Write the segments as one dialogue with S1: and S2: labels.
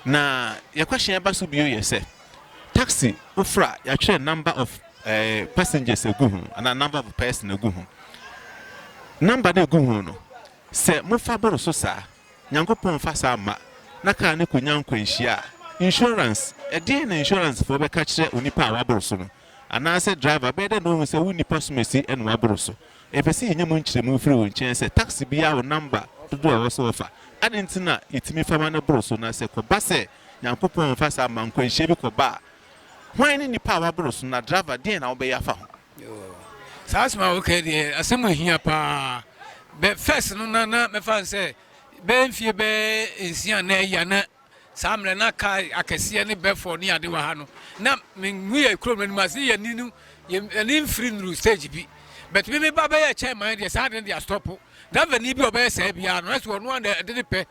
S1: Na yɛ question a ɛba so bio yɛ sɛ, taxi wofrɛ a yɛatwerɛ number of eh, passengers agu ho anaa number of person agu ho. Number no egu ho no, sɛ mofa boro so saa, Nyankopɔn mfa saa mma, na kaa no konya nkwanhyia a, insurance, ɛdeɛn na insurance foɔ bɛka kyerɛ onipa a waboro so no? Anaasɛ driver, bɛyɛ dɛn na ohu sɛ wo nipa somasi na waboro so? Yɛpɛ sɛ yenya mu nkyerɛmu firi wo nkyɛn sɛ taksi biara wɔ namba dodoɔ a ɛwɔ sɛ wɔfa. Adɛn nti na yɛtumi fa ma no boro so? Na sɛ ɛkɔba sɛ Nyankopɔn mfa saa mma nkwanhyia bi kɔba a, hwan ne nipa a waboro so, na driver deɛn na wobɛyɛ afa ho? Yoo, saa
S2: asɛm a woka yi deɛ asɛm a ɛhia paa. Bɛ first no na na mɛfa no sɛ bɛyɛ mfeɛ bɛyɛ nsia anaa ayi a na Saa mmerɛ na car akɛseɛ ne bɛfoɔ ne ade wɔ ha no na me mu yɛ kurom no anim ase yɛ ni no yɛ ani mfiri nnuru stage bi but me me ba bɛyɛ kyɛn man deɛ saa adeɛ deɛ astɔpo driver ni bi ɔbɛyɛ saa biara no ɛso ɔno a ɛde ne pɛ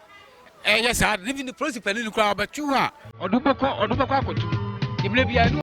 S2: ɛyɛ saa adeɛ bi ne polisi panin no koraa ɔbɛtu hɔ a ɔde bɛkɔ ɔde bɛkɔ akɔtu mmerɛ biara no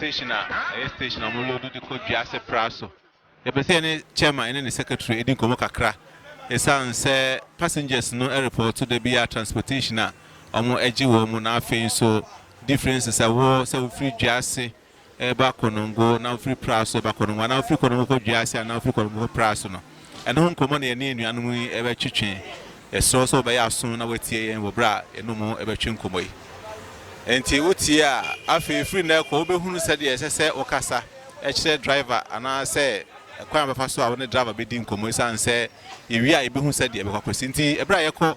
S1: station a ɛyɛ station a wɔlɔdu de kɔ dua ase pra so yɛpɛ sɛ yɛne chairman ne ne secretary di nkɔmmɔ kakra ɛsiane sɛ passengers no report da bi a transportation a wɔagye wɔn mu na afei nso differences a ɛwɔ sɛ wofiri dua ase reba konongo na wofiri pra so ba konongo anaa wofiri konongo kɔ dua ase anaa wofiri konongo kɔ pra so no, ɛno ho nkɔmmɔ na yɛne anuanom yi rebɛtwetwe. Yɛsrɛ wo sɛ wobɛyɛ aso na woatie yɛn wɔ bere a yɛne wɔn rebɛtwe nkɔmmɔ yi. Enti wotie a, afei firi nnɛ rekɔ wobɛhunu sɛdeɛ ɛsɛ sɛ wokasa kyerɛ driver anaasɛ kwan a wobɛfa so a wo ne driver bɛdi nkɔmmɔ esiane sɛ yɛwie a yɛbɛhu sɛdeɛ ɛbɛkɔ akɔsi. Enti bere a yɛkɔ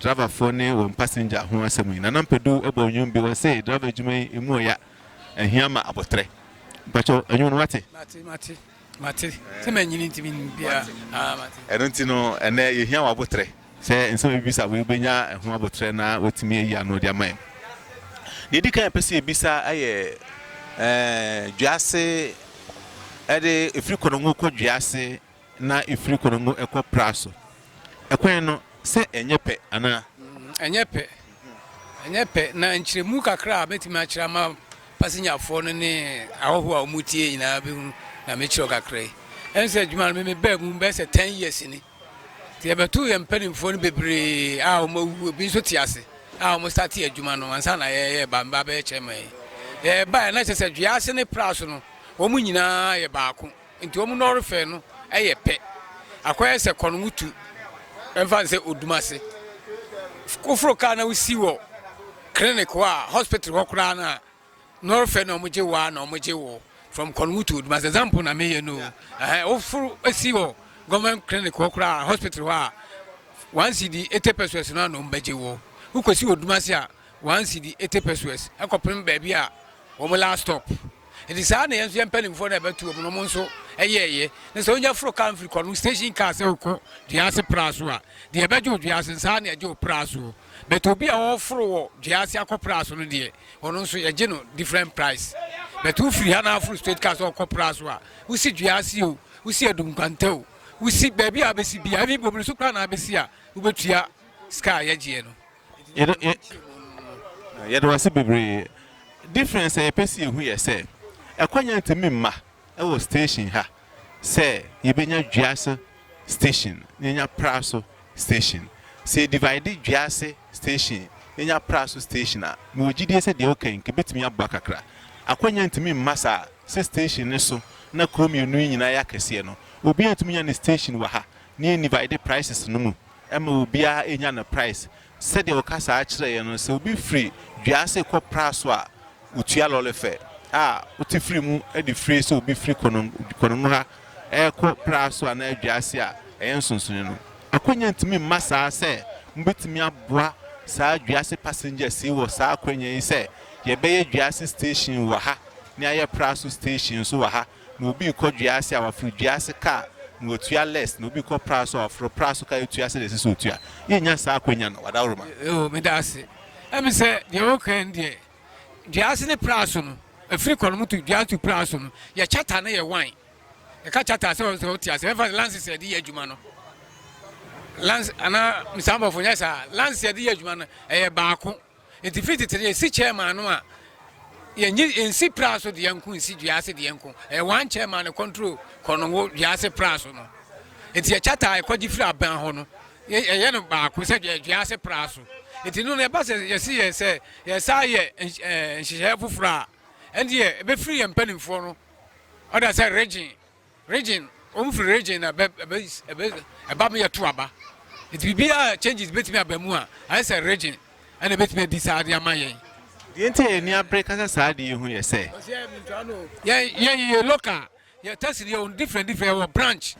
S1: Driverfoɔ ne wɔn passenger ho asɛm yi, Nana Mpedu bɔɔ nnwom bi, ɔse driver adwuma yi emu ɔya, ɛhia ma aboterɛ. Mpakyɛw, nnwom no wate? Mate, mate, mate.
S2: Sɛ manyini nti mennim biaa. Aah, mate. Ɛno nti no, ɛnnɛ
S1: yɛhia wo aboterɛ. Sɛ nsɛm a yɛbɛbisa wo yi, wobɛnya ɛho aboterɛ na woatumi ayi ano de ama yɛn. Deɛ ɛdi kan a yɛpɛ sɛ yɛbisa yɛ ɛɛ dwease ɛde ɛfiri Kɔnɔngo kɔ dwease na efiri Konongo kɔ Pra so. Ɛkwan no, sɛ ɛnyɛ pɛ anaa? Ɛnyɛ pɛ.
S2: Ɛnyɛ pɛ. Na nkyerɛmu kakra a mɛtumi akyerɛ ama pasenyafoɔ no ne ahɔhoɔ a wɔn tie nyinaa bɛhu na mekyerɛ kakra yi. Ɛne sɛ adwuma no meme baa mu bɛyɛ sɛ 10 years ni. Nti yɛbɛto yɛn mpanimfoɔ no bebree a wɔn awu ebi nso te ase a wɔn starte adwuma no ansa na yɛyɛ ba mba bɛyɛ kyɛn ma yi. Yɛbaeɛ na kyerɛ sɛ dua ase ne pra so no wɔn nyinaa yɛ baako. Nti wɔn nnɔre fɛ no yɛ pɛ. Akɔyɛ sɛ kɔ no mu tu mfa no sɛ odum ase. Woforo kaa na wosi wɔ clinic hɔ a, hospital hɔ koraa no a, nnɔre fɛ na wɔgye wo a na wɔgye wo from kɔ no mu tu odum ase. Example na meyɛ no o. Ɛhɛn, woforo si wɔ government clinic hɔ koraa, hospital hɔ a, one cedi, 80 pesewas no a na wɔbɛgye wo. Wokɔsi wɔ odum ase a, One cedi eighty pesoes kɔpem baabi a wɔn last stop nti saa na yɛn nso yɛn mpanimfoɔ no a ɛbɛto wɔn no wɔn nso yɛɛyɛ na sɛ wonya foro kaa mfiri kɔ no station kaa sɛ wokɔ dwease pra so a deɛ ɛbɛgye wo dwease saa na ɛgye wo pra soɔ but obi a ɔforo wɔ dwease akɔ pra so no deɛ ɔno nso yɛgye no different price but wofiri ha na aforo straight kaa sɛ ɔkɔ pra so a wosi dwease o wosi adum kwanta o wosi baabi a bɛsi bia ebi bobiri so koraa na abɛsi a wobɛtua sika a yɛgyeɛ no Yɛda yɛ
S1: Yɛda wo ase bebree. Difference a yɛpɛ sɛ yɛhu yɛ sɛ, ɛkwan ntumi mma wɔ station ha sɛ yɛbɛnya Dwease station na yɛanya Praso station. Sɛ yɛ divide Dwease station na yɛanya Praso station a, mewɔ gyidie sɛ deɛ woka yi nka ɛbɛtumi aboa kakra. Akwanya ntumi mma saa sɛ station no so na kuro mmienu yi nyinaa yɛ akɛseɛ no, obiara ntumi nya ne station wɔ ha na yɛn divide prices no mu. Ɛma obiara nya ne praes. Sɛdeɛ ɔkasaa kyerɛɛ yɛn no, sɛ obi firi dua ase kɔ pra so a, ɔtua lɔre fɛ a wote firi mu de firi sɛ obi firi Konomu ha rekɔ pra so anaa dua ase a, ɛyɛ nsonsonoe no. Akwanya ntumi mma saa sɛ mobɛtumi aboa saa dua ase passengers yi wɔ saa akwanya yi sɛ yɛbɛyɛ dua ase station wɔ ha na yɛayɛ pra so station nso wɔ ha. na obi rekɔ dua ase a, waforo dua ase ka na watua less, na obi rekɔ pra so a, waforo pra so ka atua sɛdeɛ ɛsɛ sɛ ɔtua. Yɛnnya saa akwanya no, Wadawuruma. O, meda wo ase.
S2: Ɛme sɛ deɛ wokae no deɛ, dua ase ne pra so no, ɛfiri kɔ no moto dua to pra so no, yɛ charter no yɛ one. Yɛka charter a, sɛ wɔn sɛ wote ase, ɛmfa sɛ lances a yɛde yɛ adwuma no, lance anaa mesaabɔfo nyɛ saa, lances a yɛde yɛ adwuma no, ɛyɛ baako. Enti firi tete no yɛsi kyɛɛ maa no a yɛnyi nsi pra so deɛ nko nsi dua ase deɛ nko ɛyɛ wɔn ankyɛɛ maa no kɔntro kɔ no wo dua ase pra so no enti yɛkyɛ taa ɛkɔgye firi aban hɔ no ɛyɛ no baako sɛ dua ase pra so enti no na ɛba sɛ yɛsi yɛ sɛ yɛsa yɛ nhyehyɛɛ foforɔ a ɛndeɛ ɛbɛfiri yɛ mpanimfoɔ no ɔda sɛ regye Region, wɔn firi region na ɛbɛ ɛbɛ ɛbɛ ɛba mu yɛ to aba. Nti biribi a changes betumi aba mu a, ayɛ sɛ region ɛna ebetumi adi saa de ama yɛn. Deɛ nti a yɛn
S1: ani abere ka sɛ saa adeɛ yi ho yɛ sɛ. Ɔsi ɛɛ mintua
S2: no o. Yɛn yɛn yɛ local, yɛ test no yɛ wɔ different different, yɛ wɔ branch,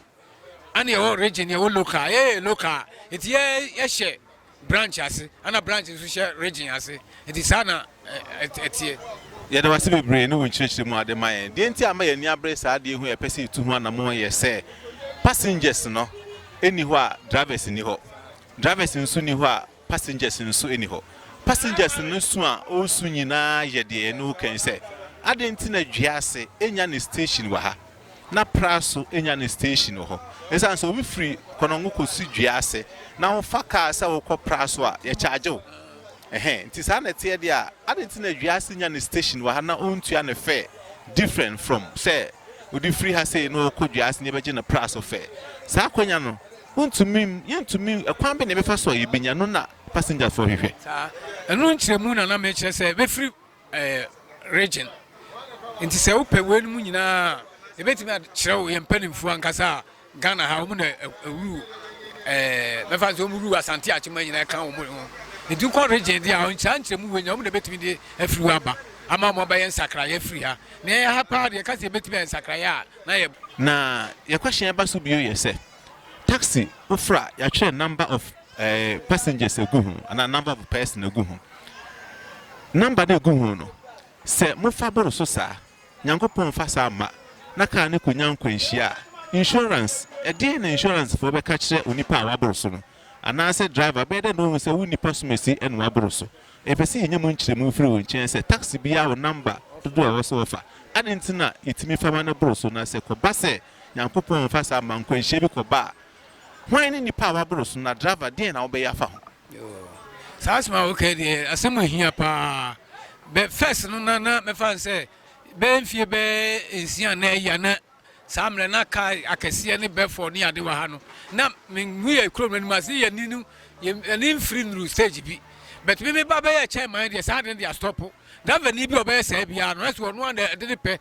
S2: ɛna yɛ wɔ region, yɛ wɔ local, yɛ yɛ local, nti yɛ yɛ hyɛ. branch ase ɛna branch nso hyɛ region ase nti saa na ɛteɛ.
S1: Yɛda wo ase bebree ne wo nkyerɛkyerɛ mu a wode ma yɛn. Deɛ nti a ama yɛn ani abere saa adeɛ ho a yɛpɛ sɛ yɛtu ho anammɔn yɛ sɛ passengers no nni hɔ a drivers nni hɔ. Drivers nso nni hɔ a passengers nso nni hɔ. Passengers no su a ɔresu nyinaa yɛ deɛ yɛne wo kan sɛ adɛn nti na Dwease nya ne station wɔ ha. na Praso nya ne station wɔ hɔ. Esiane sɛ wofiri Konongo kosi Dua ase na wofa kaa sɛ wokɔ Praso a, yɛkyagye wo. Ɛhɛn, nti saa na ɛteɛ deɛ a, adɛn nti na Dua ase nya ne station wɔ ha na ontua ne fare different from sɛ wode firi ha sei na wokɔ Dua ase na yɛbɛgye no Praso fare? Saa akwanya no, wontumi, yɛntumi, ɛkwan bɛn na yɛbɛfa so a yɛbɛnya no na passengers foɔ hwehwɛ? Saa, ɛno nkyerɛmu
S2: na na mekyerɛ sɛ bɛfiri ɛyɛ region nti sɛ wopɛ wei no mu nyinaa yɛbɛtumi akyerɛ wo yɛn mpanimfoɔ ankasa a ghana ha wɔn na ɛwuru ɛɛ mɛfa nso wɔn wuru asante akyema nyinaa ɛka wɔn ho nti wokɔ region deɛ a nkyerɛ nkyerɛ mu wei nyɛ wɔn na ɛbɛtumi de afiri hɔ aba ama wɔn abɛyɛ nsakraeɛ afiri ha na ɛyɛ ha paa deɛ ɛka sɛ yɛbɛtumi ayɛ nsakraeɛ a na yɛ na yɛ question ɛba
S1: so bio yɛ sɛ Taxi fofor a yɛatwerɛ number of passengers egu ho anaa number of person egu ho. Number no egu ho no, sɛ mofa bor so saa, Nyankopɔn mmfa saa mma na kaar no konya nkwanhyia a, insurance, ɛdeɛn na insurance foɔ bɛka kyerɛ onipa a wabor so no? Anaasɛ driver, bɛyɛ dɛn na ohu sɛ wo nipa somasi na wabor so? Yɛpɛ sɛ yɛnya mu nkyerɛmu firi wo nkyɛn sɛ taxi biara wɔ number dodoɔ a ɛwɔ sɛ wɔfa. Adɛn nti na yɛtumi fa ma no bor so na sɛ kɔba sɛ Nyankopɔn mmfa saa mma nkwanhyia bi kɔba a, hwan ne nipa a waboro so, na driver deɛn na wobɛyɛ afa ho? Yoo saa
S2: asɛm a woka deɛ asɛm a ehia paa bɛ first no na na mɛfa no sɛ bɛyɛ mfie bɛyɛ nsia na ɛya na saa mmerɛ na kaa akɛseɛ ne bɛfɔ ne ade wɔ ha no na menhu yɛ kurom no anim ase yɛ ni no yɛ ni mfiri nuru stage bi bɛt me meba bɛyɛ kyɛn man deɛ saa ade no deɛ astɔpo driver ni bi a ɔbɛyɛ saa biara no ɛsɛ ɔno a na ɛde ne pɛ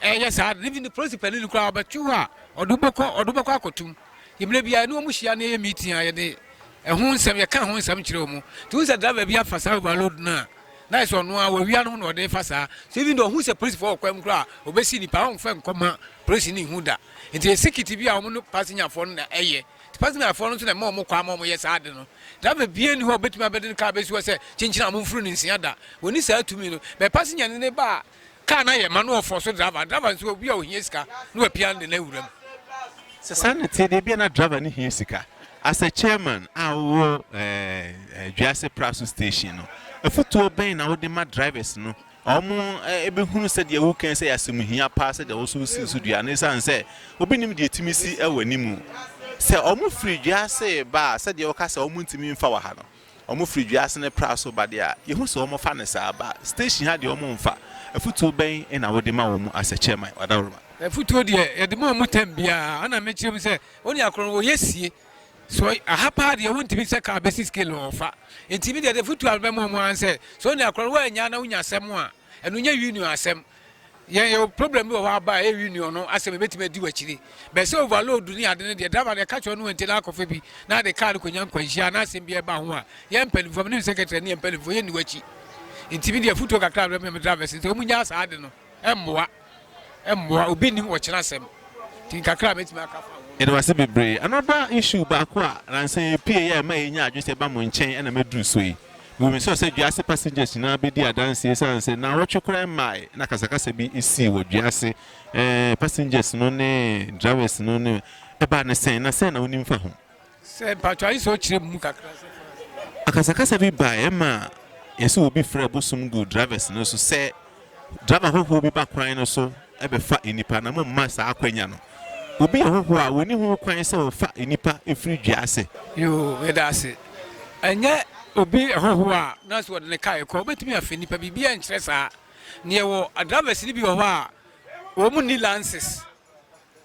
S2: Ɛnyɛ saa de, even polisi panin no koraa, ɔbɛtwe hɔ a, ɔde wo bɛkɔ, ɔde wo bɛkɔ akɔtom. Nti mmerɛ biara yɛne wɔn hyia na yɛyɛ meeting a, yɛde ɛho nsɛm, yɛka ɛho nsɛm kyerɛ wɔn. Nti wohu sɛ driver bi afa saa overload no a, na ayɛ sɛ ɔno ara wawia ne ho na ɔde refa saa. So even though ɔhu sɛ polisifoɔ wɔ kwan mu koraa a, ɔbɛsi nnipa, ɔremfa nkɔma polisi no nhu da. Nti ɛyɛ security bi a wɔn ne pasenyafoɔ no na ɛyɛ. Nti pasenyafoɔ no nso na ɛma wɔn kwan ma wɔyɛ saa ade no. Driver biara nni hɔ a ɔbɛtumi abɛde ne car abɛsi hɔ sɛ kyenkyene a momforo no nsia da. Wɔnni saa tumi no. But pasenya no ne ba a, Car no ayɛ ma na ɔfɔɔ so driver. Driver nso obi a ohia sika na wapia no de no awura mu. Sɛ saa
S1: na ɛte deɛ, ebia na driver no hia sika. As a chairman a wowɔ eh, Dwiase Praso Station no, afotuo bɛn na wode ma drivers no a wɔbɛhunu eh, sɛdeɛ wokan sɛ yɛasɛm hia paa sɛdeɛ wo so wosii so dua no ɛsiane sɛ obi nim deɛ ɛtumi si wɔ anim sɛ wɔfiri Dwiase ba a sɛdeɛ woka sɛ wɔntumi mfa wɔ ha no? Wɔfiri dua ase ne pra so ba deɛ a, yɛhu sɛ wɔfa no saa. Ba station ha deɛ wɔmfa. Afutuo bɛn na wode ma wɔn as a chairman, Ɔdawuruma? Afutuo deɛ,
S2: yɛde ma wɔn term biara. Ɛna mekyerɛ mu sɛ, onua korɔ no, wɔyɛ sie. So aha paa deɛ, wontumi sɛ car bɛsi scale no, wɔmfa. Nti me deɛ, afutuo a mebɛma wɔn ara ne sɛ, sɛ onua korɔ no, woannya na wonya asɛm a, ɛno nyɛ union asɛm. yɛn yɛwɔ problem bi wɔ hɔ aba a ɛyɛ union no asɛm ɛbɛtumi adi wakyire bɛ sɛ overload ne ade no deɛ driver no ɛka kyerɛ no ɛnti no akɔfa bi na de car no kɔnya nkwanhyia na asɛm bi ɛba ho a yɛ mpanimfoɔ menim secretary ne yɛ mpanimfoɔ yɛnni wakyi nti me deɛ afotuo kakra berɛ me drivers nti ɔmu nyaa saa ade no ɛmmoa ɛmmoa obi nim wɔkyena asɛm nti kakra mɛtumi aka fa yɛde wase bebree
S1: another issue baako a nansa yɛpie yɛ ɛma yɛnya adwene sɛ ɛba mo nkyɛn ɛna mɛduru so yi Wobisua sɛ dua ase passengers nyinaa bedi adanse esiane sɛ nnawɔtwe koraa mmae na akasakasa bi sii wɔ dua ase. Ɛɛ, passengers no ne drivers no ne ɛbaa no sɛn, na sɛn na wunim fa ho? Sɛ mpacho ayi
S2: sɛ ɔkyerɛ mu kakra sɛ.
S1: Akasakasa bi bae ɛma yɛse obi frɛ bosom guu drivers no so sɛ. Gyama hohoɔ bi ba kwan no so bɛfa nnipa, na momma saa akwanya no obi a hohoɔ a ɔnni ho kwan sɛ ɔfa nnipa firi dua ase. Yoo, yɛda ase. Ɛnyɛ obi hohoɔ a na so ɔde ne kaa rekɔ, ɔbɛtumi afa nnipa, biribiara nkyerɛ saa. Na yɛwɔ drivers no bi wɔ hɔ a, wɔn nni lances,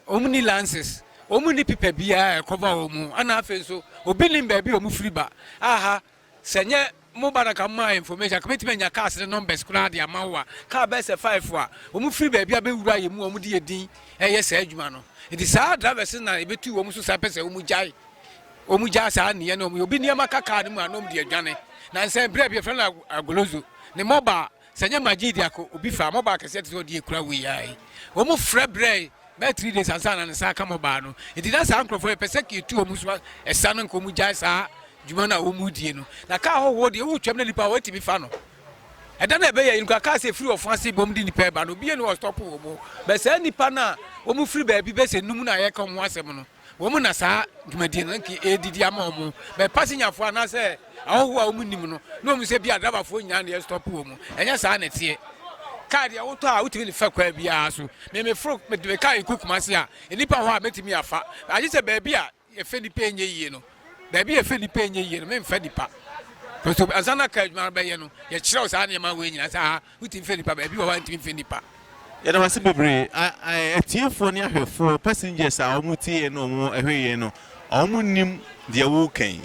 S1: wɔn nni lances, wɔn nni pipa biara a ɛkɔva wɔn, ɛna afei nso obi nnim baabi a wɔfiri ba, aha. Sɛ ɛnyɛ mo ba no anka mo maa information anka mɛtumi anya cars ne numbers koraa de ama wo a car bɛyɛ sɛ five a wɔn firi baabi a bɛwura yɛ mu a wɔn de yɛ din ɛyɛ saa adwuma no nti saa drivers no na ɛbɛtu wɔn so saa pɛ sɛ wɔn gyae wɔn gyae saa nneɛ na wɔn yɛ obi nneɛma ka car no mu a na wɔn de adwane na nsɛn berɛ bi yɛfrɛ no agolozo ne mobile Sɛ nyɛ Majid de akɔ obi fɛ a, mɔbaa kɛseɛ te sɛ ɔde yɛ kura wei ara yi. Wɔn frɛ brɛɛ bɛyɛ three days ansa na ne nsa aka mɔbaa no. Nti na saa nkorɔfoɔ yɛ pɛ sɛ ka etu wɔn so a ɛsa no nka wɔn gyae saa dwuma no a wɔn die no. Na kaa hɔhoɔ deɛ wo twam na nipa a wɔatumi fa no. Ɛda no a ɛbɛyɛ yi no koraa kaa sɛ efiri ɔfo ase bom de nipa ɛba no obiara ni hɔ ɔstɔpo wɔn. Bɛ saa nipa no a wɔn firi baabi bɛ sɛ num na yɛka wɔn ho asɛm no. Wɔn na saa dwumadie no nka ɛredidi ama wɔn bɛ pasenyafoɔ anaasɛ ahɔhoɔ a wɔn nim no na wɔn sɛ bi a drabafoɔ nyinaa na yɛstɔpo wɔn ɛnyɛ saa na ɛteɛ kaa deɛ wotɔ a wotumi ne fa kwaa biara so memeforo mede me kaa ɛkɔ kuma se a nnipa hɔ a mɛtumi afa agye sɛ baabi a yɛfɛ nipa ɛnyɛ yie no baabi a yɛfɛ nipa ɛnyɛ yie no memfa nipa nso ansa na kaa adwuma no bɛyɛ no yɛkyerɛw saa nneɛma wei nyinaa saa Wotumi fɛ nipa ba ebi wɔ hɔ a ntumi nfɛ nipa. Yɛda wo ase bebree atiefoɔ ne ahwɛfoɔ passengers a wɔn tie yɛn na wɔn ɛhwɛ yɛn no wɔn nnim deɛ woka yi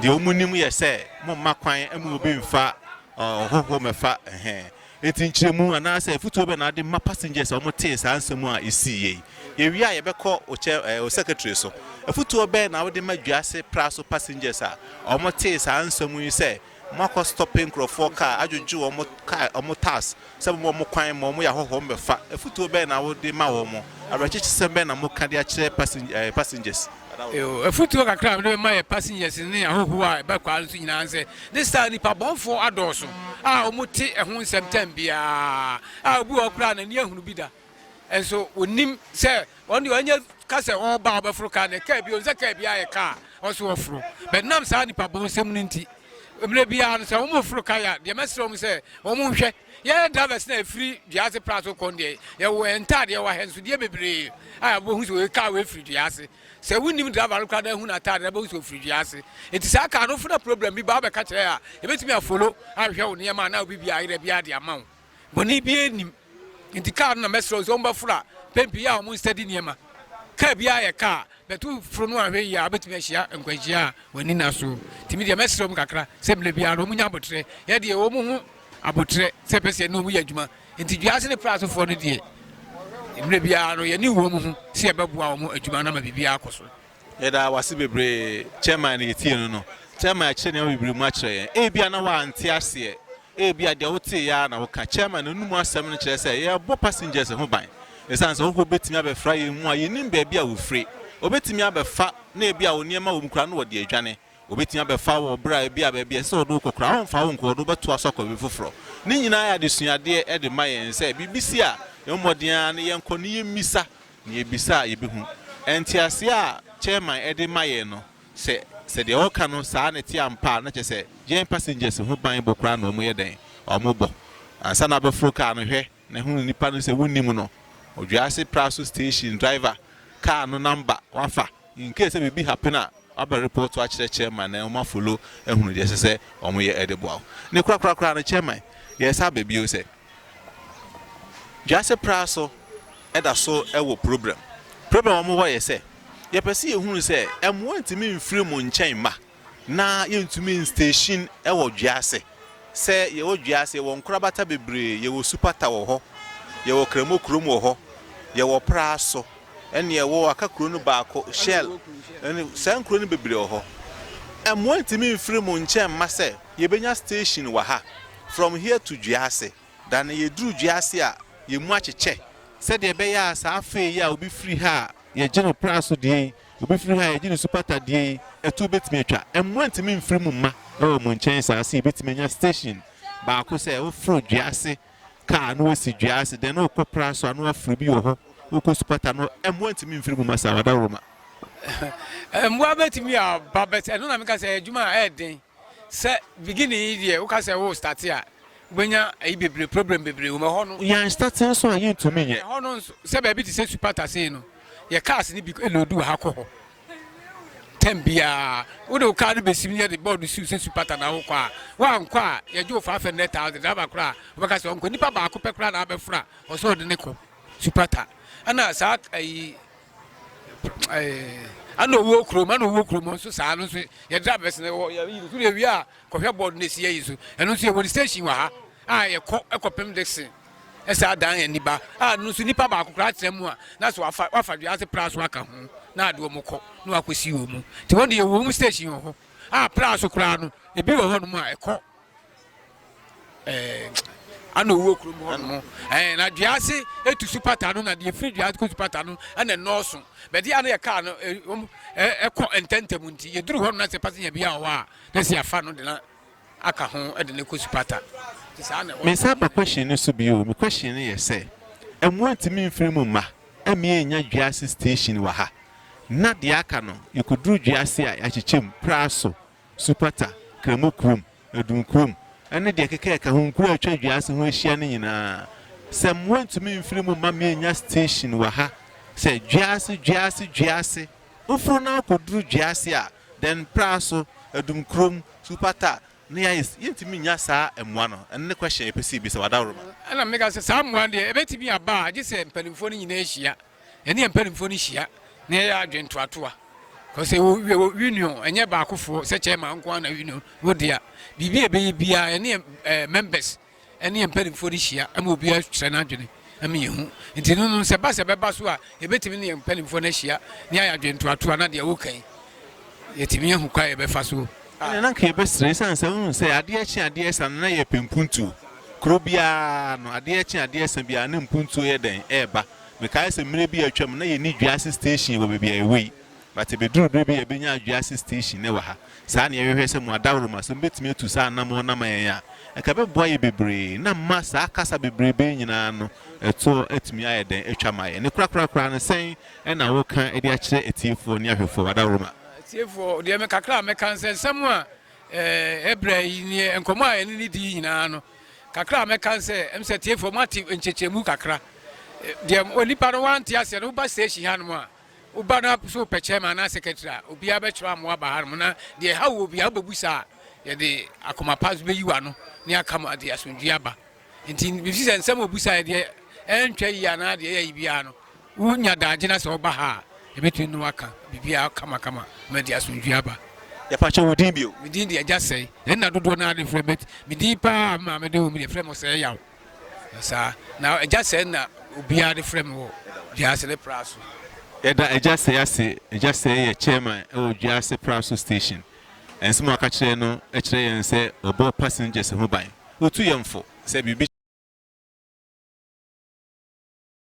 S1: deɛ wɔn nim yɛ sɛ mo mma kwan ma obi nfa ɔhɔhoɔ mɛfa ɛhɛn eti nkyerɛmu anaasɛ afutuo bɛ na ade ma passengers a wɔn tee saa nsɛm a esi yɛ yi yɛwie a yɛbɛkɔ okyɛ ɛɛ osecretary so afutuo bɛ na wode ma dwa ase pra so passengers a wɔn tee saa nsɛm yi sɛ Mo akɔ stɔpe nkurɔfoɔ kaa, adwodwo wɔn kaa, wɔn tax, sɛ mobɔ wɔn kwan ma wɔyɛ ahɔhoɔ wɔn bɛfa. Afutuo bɛn na wo de ma wɔn? Awerɛkyekyesɛm bɛn na mo ka de akyerɛ passenger ɛɛ passengers? Eww,
S2: afutuo kakra a mede bɛma yɛ passengers ne ahɔhoɔ a ɛba kwaa no so nyinaa ne sɛ, ne saa nnipa bɔnfoɔ adɔɔso a wɔte ɛho nsɛm time biara, a obi wɔ hɔ koraa a n'ani ahunu bi da. Nso wɔnim sɛ wɔn deɛ wɔnyɛ ka sɛ wɔn ba wɔbɛforo kaa na kaa bi wɔn sɛ kaa bi ayɛ kaa wɔn so wɔforo bɛn nam saa nipa bɔn nsɛm no nti mmerɛ biara no sɛ wɔn foro kaa yɛ deɛ mɛsrɛ wɔn sɛ wɔn nhwɛ yɛyɛ drivers na efiri dua ase pra so kɔn deɛ yɛwɔ yɛn ntaadeɛ wɔ ahɛnsodeɛ bebree a wɔbɛhu sɛ wɔyɛ kaa wɔafiri dua ase sɛ wonim driver no koraa na ehu n'ataade na bɛhu sɛ wɔfiri dua ase eti saa kaa no fo na problem bi ba abɛka kyerɛ a yɛbɛtumi afolo ahwɛ wɔn nneɛma na obi bi ayerɛ bi ade ama wɔn. bɔne biara nnim. Nti kaa no na mɛsrɛ wo sɛ wɔbɛforo a, mpɛn pii a wɔnsɛde nneɛma. Kaa biara yɛ kaa a, but woforo no anhwɛ yie a, wobɛtumi ahyia nkwanhyia a w'ani nna so. Nti me deɛ mɛsrɛ wɔn kakra sɛ mmerɛ biara no wɔnya aboterɛ. Yɛ deɛ yɛwɔ wɔn ho aboterɛ sɛ ɛpɛ sɛ yɛne wɔn yɛ adwuma. Nti dua ase ne pra ase foɔ no deɛ, mmerɛ biara no yɛne wɔn ho sɛ yɛbɛboa wɔn adwuma no ama biribiara akɔ so. Yɛda w'ase
S1: bebree Chairman na yɛtie no no. Chairman akyerɛ nneɛma bebree mu akyerɛ yɛn. Ebia na w'ante aseɛ, ebia deɛ woteeɛ ara na woka. Chairman n'anum asɛm no kyerɛ sɛ yɛrebɔ passengers ho ban. Ɛsiane sɛ wohɔ bɛtumi abɛfra yɛn mu a yɛnnim baabi a wɔfire. Wɔbɛtumi abɛfa na ebia wo nneɛma wɔ mu koraa na wɔde adwane. Wɔbɛtumi abɛfa wo wɔ berɛ a ebia baabi a ɛsɛ sɛ wɔde wo kɔ koraa wɔmfa wo nkɔ, wɔde wo bɛtoa so akɔ baabi foforɔ. Ne nyinaa yɛ adesuadeɛ de ma yɛn sɛ biribi si a, yɛmmɔ mmɔden ara na yɛnkɔ na yɛmmisa Nea yebisa a yebehu. Ntease a chairman de ma yɛn no, sɛ sɛ deɛ ɔka no saa na ɛte ampa a, na kyerɛ sɛ yɛn passengers ho ban bɔ koraa na wɔyɛ dɛn? Wɔbɔ. Ansa na wobɛforo kaa no, hwɛ na hunu nipa no sɛ wonnim no, Odwiase Praso Station driver, car no number, wafa. In case sɛ biribi happen a, wabɛ report akyerɛ chairman na wɔn afollow ahunu deɛ ɛsɛ sɛ wɔyɛ de boa wo. Ne korakorakoraa no, chairman, yɛresa aba bio sɛ. Wiase pra so da so wɔ problem. Problem a wɔwɔ yɛ sɛ, yɛpɛ sɛ yɛhunu sɛ mmoa ntumi mfiri mo nkyɛn mma na yɛntumi nstation wɔ wiase. Sɛ yɛwɔ wiase, yɛwɔ nkorabata bebree, yɛwɔ supata wɔ hɔ, yɛwɔ kramo kurom wɔ hɔ, yɛwɔ pra so ne ɛwɔ aka kuro no baako, Shell, saa nkuro no bebree wɔ hɔ. Mmoa ntumi mfiri mo nkyɛn mma sɛ. Yɛbɛnya station wɔ ha from here to Dwease, dane yɛduru Dwease a yɛn mu akyekyɛ. Sɛdeɛ ɛbɛyɛ a saa fee yi a obi firi ha a yɛgye no Praso deɛ yi, obi firi ha a yɛgye no Supata deɛ yi, atuo bɛtumi atwa. Mmoa ntumi mfiri mo mma wɔ mo nkyɛn saa sɛ yɛbɛtumi anya station baako sɛ woforo Dwease car na wasi Dwease then wokɔ Praso a na waforo bi wɔ hɔ, wokɔ Supata no mmoa ntumi mfiri mo mma saa, Wadawuruma.
S2: Mmoa bɛtumi aba but ɛno na meka sɛ ɛyɛ adwuma a ɛyɛ den. Sɛ beginning yi deɛ woka sɛ wo starte a wobɛnya ayi bebree problem bebree wɔ mu ɛhɔ no. Yɛn starte nso a
S1: yentumi nyɛ. Ɛhɔ no nso sɛ baabi te
S2: sɛ supata sei no yɛ cars no bi load wɔ ha kɔ hɔ term biara wode wo car no bɛsim no yɛde board siw sɛ supata na wokɔ a woankɔ a yɛgye wo 500,000 driver koraa wobɛka sɛ ɔnkɔ nipa baako pɛ koraa na abɛfra ɔsɛ ɔde ne kɔ supata ɛna saa ayi ɛna ɔwuo kurom ɛna ɔwuo kurom nso saa no nso yɛde abɛs na ɛwɔ yɛyi no so na ewia a kɔhwɛ bɔɔd na esi yɛyi so ɛno nso yɛwɔ station wɔ ha a yɛkɔ ɛkɔpem dixon ɛsɛ adan yɛn niba a no nso nipa baako koraa kyerɛ mu a na so wafa wafa dua ase pra so aka ho na ade wɔn kɔ na wakɔsi wɔn mu te wɔn de yɛwɔ wɔn station wɔ hɔ a pra so koraa no ebi wɔ hɔ nom a ɛkɔ ɛɛ ana owuo kurom hɔ nom ɛɛ na dua ase etu su pata no na deɛ efiri dua kɔ su pata no ɛna nnɔɔso bɛde ano yɛ kaa no ɛwom ɛkɔ ntɛntɛm nti yɛduru hɔ no na sɛ pasenya bi a ɔwɔ a na si afa no de na aka ho ɛde ne kɔ su pata ti saa na. mesan ba question no so
S1: bio me question no yɛ sɛ ɛmoa ntumi mfiri mu mma ɛmi enya dua ase station wɔ ha na deɛ aka no yɛkɔduru dua ase a yɛakyekyɛ mu praa so Supata, Kremo kurom, Adum kurom, ne deɛ ɛkeka ɛka ho, nkuro a atwa Dwaase ho ahyia no nyinaa, sɛ mmoa ntumi mfiri mu mma mennya station wɔ ha sɛ Dwaase, Dwaase, Dwaase. Woforo na wokɔduru Dwaase a, then Praso, Adum kurom, Supata, ne Ayes, yɛntumi nnya saa mmoa no. Ɛno ne question a yɛpɛ sɛ yɛbisa wo, Adaworoma. Ɛna meka sɛ, saa
S2: mmoa no deɛ, ɛbɛtumi aba a, gye sɛ mpanimfoɔ no nyinaa hyia. Yɛne yɛn mpanimfoɔ no hyia na yɛyɛ adwene toatoa. Because ɛwɔ wie wɔ union ɛnyɛ baakofoɔ sɛ chairman nko ara na union wɔ di a biribi a ɛbɛyɛ biara yɛne yɛn ɛɛ members ɛne yɛn mpanimfoɔ no hyia ɛma obi akyerɛ n'adwene ɛma yɛn ho nti no no sɛ ba sɛ bɛba so a yɛbɛtumi ne yɛn mpanimfoɔ no ahyia ne ayɛ adwene toatoa na deɛ woka yi yɛtumi ahu kwa yɛbɛfa so. ɛna na nka yɛbɛsrɛ
S1: ɛsiane sɛ wohu sɛ adeɛ kye adeɛ sa no na yɛpɛ mpuntuo kuro biara no adeɛ kye adeɛ sa biara na mpuntuo yɛ dɛn ɛreba Mekae sɛ mmere bi a atwam na yenni dua ase station wɔ baabi a yɛwɔ yi, but ebeduruu bere bi a yebenyaa dua ase station nnɛ wɔ ha. Saa na yɛhwehwɛ sɛ mo adawurubɔ, sɛ mubetumi atu saa anammɔn no ama yɛn a, anka ɛbɛboa yɛn bebree na ama saa kasa bebrebe yi nyinaa ano toɔ atumi ayɛ dɛn atwa ama yɛn. Ne korakora koraa no, sɛn na woka de akyerɛ atiefoɔ ne ahwɛfoɔ? Adawurubɔ. Atiefoɔ deɛ, me
S2: kakra a mɛka ne sɛ, nsɛm a ɛbrɛ yi ne nkɔmmɔ a yɛne no di yi nyinaa no, Kakra a mɛka ne sɛ, ɛm sɛ atiefoɔ moate nkyekyɛmu kakra. Deɛ onipa no wante aseɛ no, woba station hanom a, woba na sɛ wopɛ chairman anaa secretary a, obiara bɛkyerɛ amoa aba hanom na deɛ ɛha wo obiara wobɛbu saa a, yɛde akoma pa nso bɛyi w'ano ne aka mo ade asomdwie aba. Nti mefiri sɛ nsɛm a obusaeɛ deɛ ɛntwa yie anaa deɛ ɛyɛ yie biara no, wonya daagye na sɛ woba ha a, yɛbɛtumi ne wo aka biribiara kamakama ma ɛde asomdwoeɛ aba. Yɛpa kyɛw, wo din
S1: bio? Me din de Agya Sɛe.
S2: Nna dodoɔ no ara de frɛ me, but me din pa ara a me maame de woo me deɛ, yɛfrɛ me Ɔsɛeyaw. Saa. Na Agya Sɛe na obiara de frɛ me wɔ Dwaase ne Pra so. Yɛda Agya
S1: Sɛe ase. Agya Sɛe yɛ chairman wɔ Dwaase Pra so station. Nsɛm a ɔka kyerɛɛ no kyerɛ yɛn sɛ ɔbɔ passengers ho ban. Otu yɛn fo sɛ biribi.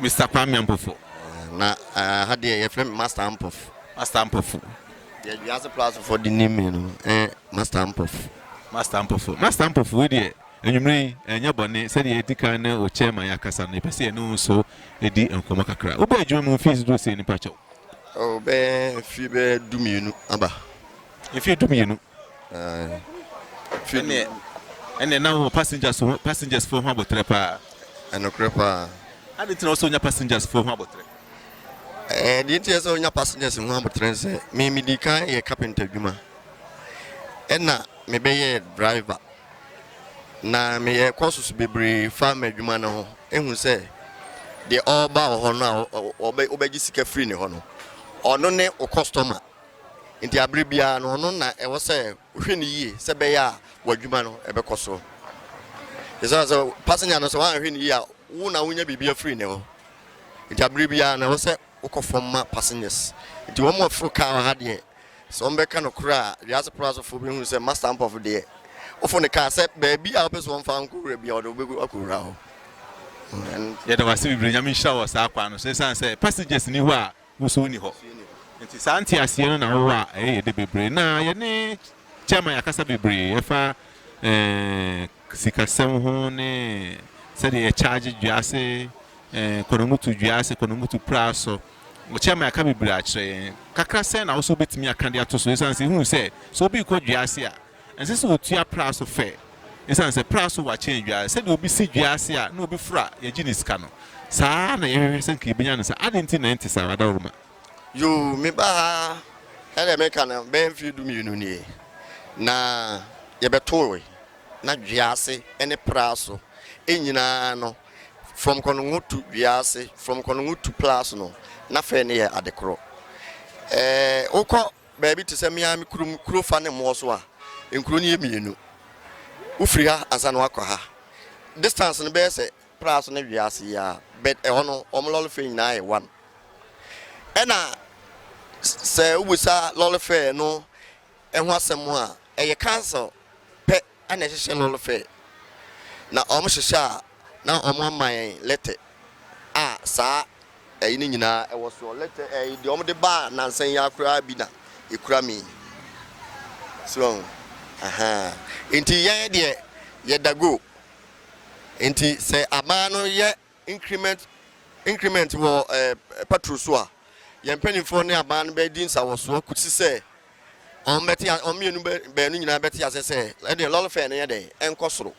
S1: Mister Kwame Ampofo. Ɛɛ na ɛɛ
S3: ha deɛ yɛfrɛ me Master Ampofo. Master Ampofo.
S1: Deɛ
S3: wiase plasofo de nim me no ɛɛ Master Ampofo. Master Ampofo. Master
S1: Ampofo wo deɛ enyimire yi ɛnyɛ bɔne sɛdeɛ yɛdi kan ne wo chairman yɛ akasa no yɛpɛ sɛ yɛne wo nso di nkɔmmɔ kakra. Wobɛɛ adwuma mu mfeɛ dodoɔ sɛn ni pakyɛw? Oh bɛɛ
S3: mfeɛ bɛɛ du mmienu aba. Mfeɛ
S1: du mmienu. Ɛnneɛ ɛnneɛ na wowɔ passengers ho passengers foɔ ho aboterɛ paa. Ɛnokorɛ paa. Adɛn nti na ɛwɔ sɛ wonya passengers foɔ ho aboterɛ? Ɛɛ
S3: deɛ nti ɛsɛ sɛ wonya passengers ho aboterɛ ne sɛ me medi kan yɛ carpenter adwuma ɛna mebɛyɛɛ driver na meyɛɛ courses bebree fa m'adwuma no ho ehu sɛ deɛ ɔreba wɔ hɔ no a wobɛgye sika firi ne hɔ no ɔno ne wo customer. Enti bere biara no, ɔno na ɛwɔ sɛ wohwɛ no yie sɛ ɛbɛyɛ a w'adwuma no bɛkɔ so. Esiane sɛ passenger no sɛ woanhwɛ no yie a, wo na wonya biribi afiri ne hɔ. Enti bere biara no, ɛwɔ sɛ wokɔ fam ma passengers. Enti wɔn a wɔforo kaa wɔ ha deɛ, sɛ wɔbɛka no korɛ a, wiase poro asɔfoɔ bɛhunu sɛ Master Ampɔfo deɛ, woforo ne kaa sɛ baabi a wopɛ sɛ wɔmfa wo nkɔwura biara, ɔde wo bɛgu akɔwura hɔ. Yɛda wo ase bebree.
S1: Nyame nhyira wo wɔ saa kwan no so. Esiane sɛ passengers nni hɔ a, Wo so nni hɔ. Nti saa nteaseɛ no na wowɔ a ɛyɛ yɛde bebree. Na yɛne Chairman yɛakasa bebree ɛfa eh, sikasɛm ho ne sɛdeɛ yɛ charge dwease eh, kɔnɔmutu dwease, kɔnɔmutu praa so. Chairman aka bebree akyerɛ yɛn. Kakra sɛn na wo so wobɛtumi aka de ato so? Ɛsiane sɛ ɛhuu sɛ sɛ obi rekɔ dwease a, Ɛnsɛ sɛ wotua pra so fɛ esiane sɛ pra so wa kyɛn dua. Sɛnea obi si dua ase a na obi foro a yegye ne sika no, saa ara na yɛhwehwɛ sɛ anka yebenya no saa. Adɛn nti na ɛnte saa, Adaworoma? Yoo,
S3: mebaa ha sɛnea meka no bɛyɛ mfe dumienu nie, na yɛbɛtoe na dua ase ne pra so nyinaa no, from kɔnongo to dua ase, from kɔnongo to pra so no, na fɛ no yɛ ade koro. Ɛɛ, wokɔ Baabi te sɛ me ara me kurom kuro fa ne mmoɔ so a, nkuro no yɛ mmienu. Wofiri ha ansa na woakɔ ha. Distance no bɛyɛ sɛ Praso ne Wease yi ara but ɛhɔ no wɔn lɔre fare nyinaa yɛ one. Ɛna sɛ wobisa lɔre fare no ho asɛm a, ɛyɛ cancel pɛ. na ɛhyehyɛ no no fɛ na wɔn hyehyɛ a na wɔn ama yɛn lɛtɛ a saa ɛyi no nyinaa ɛwɔ soɔ lɛtɛ ɛyi deɛ wɔn de baa nansa yi akoraa bi na ekura mi so wɔn ahan nti yɛn deɛ yɛda go nti sɛ aban no yɛ increment increment wɔ patrol so a, yɛn mpanimfoɔ ne aban no bɛdi nsawɔsoɔ kɔsi sɛ wɔn bɛte wɔn mmienu baanu nyinaa bɛte aseɛ sɛ ɛdeɛ lɔre fare no yɛ dɛn ɛnkɔ soro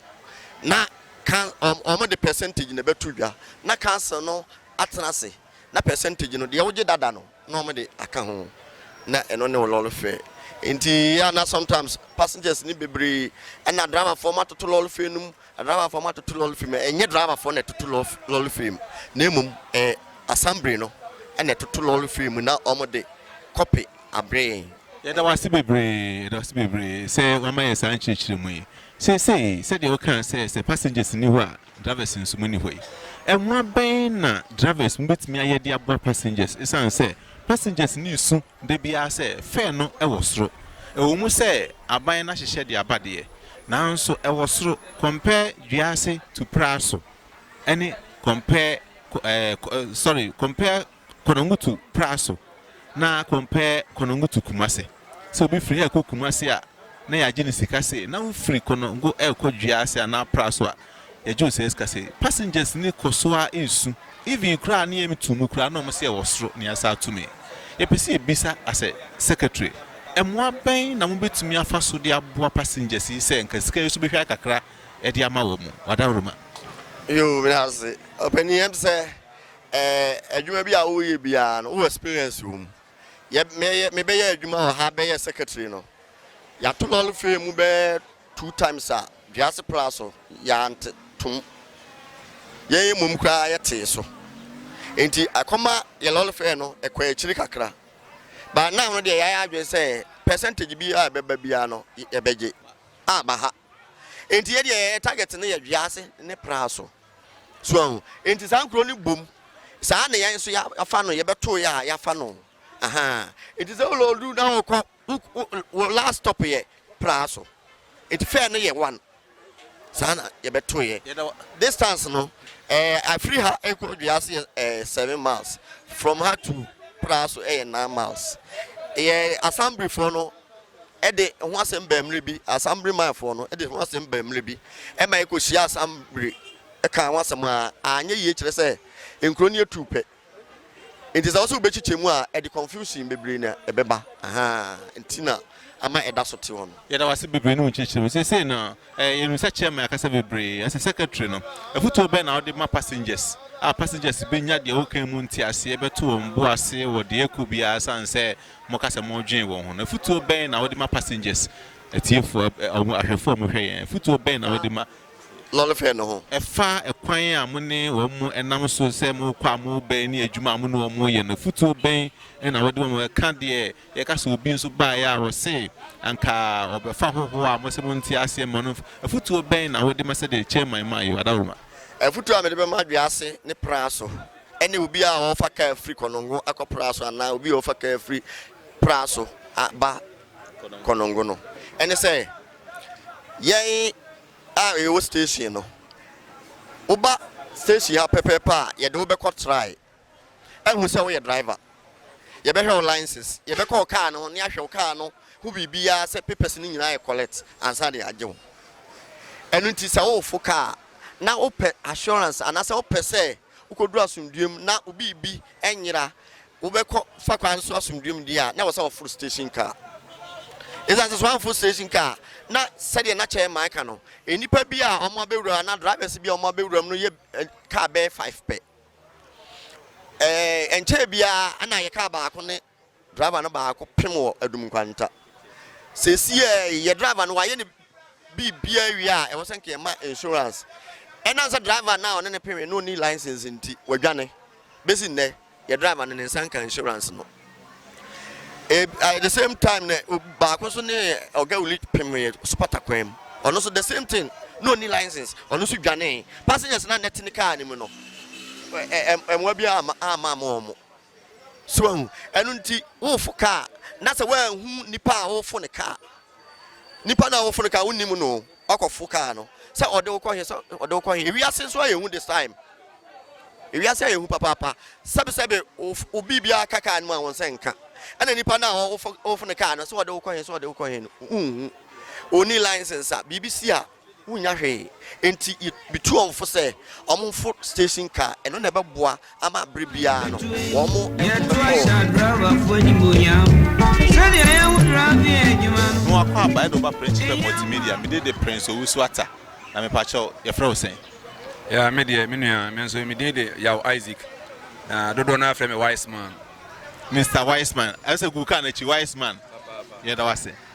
S3: na kan wɔn wɔn de percentage na ɛbɛto dwa na council no atena ase. Na percentage no, deɛ wogye dada no na wɔn de aka ho, na ɛno ne wo lɔre fare. Nti yɛ a na sometimes passengers no bebree, ɛna driver foɔ mo atoto lɔre fare no mu, driver foɔ mo atoto lɔre fare mu, ɛnyɛ driver foɔ na ɛtoto lɔre fare mu, na mmom ɛyɛ assembly no na ɛtoto lɔre fare mu na wɔn de kɔpe abrɛ yɛn. Yɛda wo ase
S1: bebree, yɛda wo ase bebree sɛ wama yɛn saa nkyerɛkyerɛmu yi. Seesei sɛdeɛ wokaa sɛ sɛ passengers nni hɔ a, Drivers nso monni hɔ yi. Mmoa bɛn na drivers betumi ayɛ de aboa passengers esiane sɛ passengers ani resu da biara sɛ fare no wɔ soro? Ɛwɔ mu sɛ aban no ahyehyɛ de aba deɛ, nanso ɛwɔ soro, compare Dwease to Praso ne compare eh, sorry, compare Kwanangutu Praso na Krompɛ Kwanangutu Kumase. Sɛ obi firi ha rekɔ Kumase a, na yɛagye no sika sei, na wofiri Kwanangu rekɔ Dwea ase anaa Praso a, yɛgye wo saa sika sei. Passengers ni kɔ so ara resu. Even koraa ne yam tu mu koraa na wɔn se ɛwɔ soro na yɛasan ato mu yi. Yɛpɛ sɛ yɛbisa as a secretary, mmoa bɛn na mobɛtumi afa so de aboa passengers yi sɛ nka sika yi so bɛhwɛ ayɛ kakra de ama wɔn? Wadawuruma. Yoo, meda
S3: ase ɔpanin. Ɛm sɛ Ɛɛ adwuma bi a woyɛ biara no wo experience wɔ mu? Yɛ mɛyɛ me bɛyɛ adwuma wɔ ha bɛyɛ secretary no yɛato lɔre fare mu bɛyɛ two times a duase pra so yɛante tom yɛn mmom koraa yɛ tee so nti ɛkɔma yɛ lɔre fare no ɛkɔ akyiri kakra but now no deɛ yɛayɛ adwene sɛ percentage bi a ɛbɛba biara no yɛbɛgye aba ha. Enti yɛ deɛ yɛ target no yɛ Dwease ne Praso. So ahu? Enti saa nkuro no bom. Saa na yɛn nso yɛafa no, yɛbɛtoo yɛ a yɛafa no. Ahaa. Enti sɛ wo loodu na wokɔ, wo last stop yɛ Praso. Enti fare no yɛ one. Saa na yɛbɛtoo yɛ. Yɛda wo distance no, eh, firi ha kɔ Dwease yɛ eh, seven miles. From ha to Praso yɛ nine miles. Yɛ Assemblyfoɔ no de ho asɛm baa mmere bi, Asambere manfoɔ no de ho asɛm baa mmere bi ma ɛkɔhyiaa Asambere kaa ho asɛm a anyɛ yie kyerɛ sɛ nkuro no atuu pɛ nti sɛ wo sɛ wobɛkyekyɛ mu a ɛde confusion bebree na ɛbɛba aha nti na ama ɛda so te hɔ no. Yɛda wo ase bebree ne wo nkyerɛkyerɛmu.
S1: Seesei no, eh, yɛnim sɛ chairman akasa bebree, ɛsɛ secretary no. Afotuo bɛn na wode ma passengers a passengers bɛnya deɛ wokan mu nteaseɛ bɛto wɔn bo ase wɔ deɛ ɛkɔ biara sane sɛ moka sɛ modwen wɔn ho no, afutuo bɛn na wode ma passengers, atiefoɔ, ɛ, ahwɛfoɔ a wɔhwɛ yɛn? Afutuo bɛn na wode ma. Lɔrefoɔ no
S3: ho? Ɛfa ɛkwan a
S1: mo ne wɔn nam so sɛ morekɔ a morebɛn ne adwuma a mo ne wɔn reyɛ no, afutuo bɛn na wode ma wɔn? Ɛka deɛ yɛka sɛ obi nso baeɛ a ɔse anka ɔbɛfa hohoɔ a mose monte aseɛ ma no, afutuo bɛn na wode ma sɛdeɛ Chairman maa yɛ wɔ Adaworoma? Afutuo a mede bɛma
S3: dua ase ne praa so ɛne obi a ɔrefa kaa firi Konongo akɔ Pra so anaa obi a ɔrefa kaa firi Pra so aba Konongo no ne sɛ, yɛn a yɛwɔ station no, woba station ha pɛpɛɛpɛ a, yɛde wo bɛkɔ try ahu sɛ woyɛ driver. Yɛbɛhwɛ wo license, yɛbɛkɔ wo kaa no ho ne ahwɛ wo kaa no ho biribiara sɛ papers no nyinaa yɛ correct ansa na yɛagye wo. Ɛno nti sɛ worefo kaa na wopɛ assurance anaasɛ wopɛ sɛ Wokodu asomdwoe mu na wo biribi anyera, wobɛkɔ fa kwan so asomdwoe mu deɛ a, na ɛwɔ sɛ woforo station car. Esiane sɛ sɛ woamforo station car a, na sɛdeɛ na chairman ka no, nnipa bi a wɔabɛwura anaa drivers bi a wɔabɛwura mu no yɛ car bɛyɛ five pɛ. Ɛɛ ɛnkyɛɛ biara na ayɛ car baako ne Driver no baako pem wɔ Adum Nkwanta. Sesiɛ yi yɛ driver no wayɛ ne biribia awie a ɛwɔ sɛ nka yɛma insurance. Ɛnam sɛ driver no a ɔne no pemee no ɔnni license nti wadwane. Bɛsi nnɛ yɛ driver no ne nsa nka insurance no. At the same time no baako nso ne Oga Wuli pemee Supata kwan mu. Ɔno nso the same thing na ɔnni license ɔno nso dwanee. Passengers no a na ɛte ne car no mu no mmoa biara amma ama wɔn. So wahu? Ɛno nti wofo ka a, na sɛ woanhu nipa a wofo no ka a, nipa no a wofo no ka a wonnim no, wakɔfo kaa no sɛ ɔde wo kɔ he, sɛ ɔde wo kɔ he. Ewiase nso ayɛ hu this time. Ewiase ayɛ hu papaapa. Sɛbesɛbe wo biribiara ka kaa no mu a wɔn sɛ nka. Ɛna nipa no a wofo no kaa no sɛ ɔde wo kɔ he, sɛ ɔde wo kɔ he no, wonhu. Onni license a, biribi si a. wonnya hwee. Enti mitu wɔn fo sɛ wɔmforo station car, ɛno na ɛbɛboa ama bere biara no wɔbɛkɔ.
S1: Noah Kwabah ɛna ɔba Principal Multimedia. Me de de Prince Owusu Atta. Na me pakyɛ wo, yɛfrɛ wo sɛn? Yeah, me deɛ,
S4: me nua, me nso me din de Yaw Isaac. Na dodoɔ no ara frɛ me Wiseman. Mister
S1: Wiseman. Ɛsɛ sɛ gu car no akyi, Wiseman. Yɛda wo ase.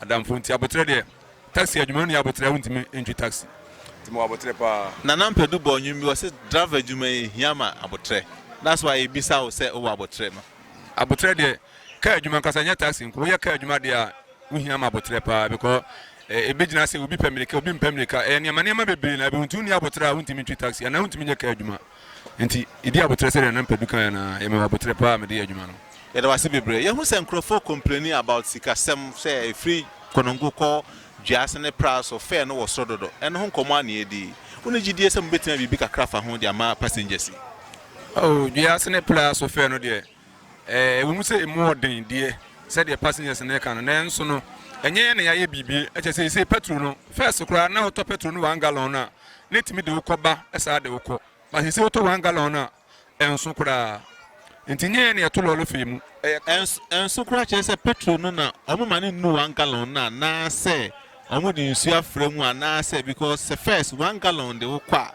S4: Adamfo nti aboterɛ deɛ. Taxi adwuma no yɛ aboterɛ a wontumi ntwi taxi nti mewɔ aboterɛ paa. Nana Mpadu bɔɔ nnwom
S1: bi ɔse driver adwuma yi ehia ma aboterɛ that's why yebisa wo sɛ wowɔ aboterɛ no. Aboterɛ deɛ
S4: car adwuma ankasa nyɛ taxi nko woyɛ car adwuma deɛ a wohia ma aboterɛ paa because ebi gyina sɛ obi pɛ mirika obi mpɛ mirika ɛyɛ nneɛma nneɛma bebree na ɛbɛhu nti wonni aboterɛ a wontumi ntwi taxi anaa wontumi nyɛ car adwuma. Enti, yedii aboterɛ sɛdeɛ na Mpadu kaeɛ no ara. Yɛmewɔ aboterɛ paa a mede yɛ adwuma no. Yɛda wo ase bebree.
S1: Yɛahu sɛ nkurɔfoɔ complaini about sikasɛm sɛ ɛfiri Konongo kɔ Dwease ne Pra so fare no wɔ soro dodo. Ɛno ho nkɔmmɔ ara na yɛredi yi. Wonni gyidie sɛ mobɛtumi ayɛ biribi kakra afa ho de ama passengers yi? Oh,
S4: Dwease ne Pra so fare no deɛ, Ɛwom sɛ emu wɔ den deɛ, sɛdeɛ passengers no reka no, nanso no, ɛnyɛ yɛn na yɛayɛ biribi. Kyerɛ sɛ, seesei pɛtro no, first koraa na wotɔ pɛtro no one gallon no a, na etumi de wo kɔ ba saa de wo kɔ, but seesei wotɔ one gallon no a, ɛnso koraa. Enti nyɛ yɛn na yɛto lɔre fee mu, ɛyɛ kar. Ɛnso
S1: koraa kyerɛ sɛ pɛtro no na wɔma no nnu one gallon no anaasɛ wɔde nsuo afra mu anaasɛ, because sɛ first one gallon de wo kɔ a,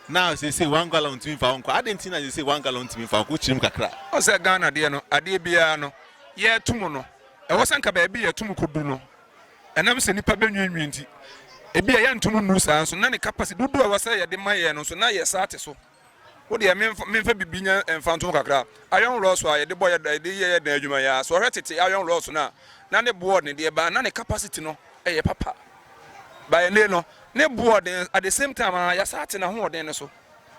S1: Na seesei one gallon ntumi mfa hɔ nkɔ. Adɛn nti na seesei one gallon ntumi mfa hɔ nkɔ? Wokyiri mu kakra. Wohu sɛ Ghana deɛ no,
S4: adeɛ biara no, yɛreto mu no, ɛwɔ sɛ anka baabi yɛto mu kɔdu no, ɛnam sɛ nnipa bɛnwiinwii nti, ebia yɛnto mu nnuru saa nso, na ne capacity, dodoɔ a ɛwɔ sɛ yɛde ma yɛn no nso, na yɛn saa te so. Wo deɛ memfa memfa biribi nyɛ mfa nto mu kakra. Iron rods a yɛde bɔ yɛ yɛde yɛ yɛn dan adwuma yi ara, sɛ wɔhwɛ tete iron rods no a, na ne boɔ ne deɛ baa, na ne capacity no, ɛyɛ papa but ɛnɛ no ne bo ɔden at the same time aa yasa ate n'ahoɔden no so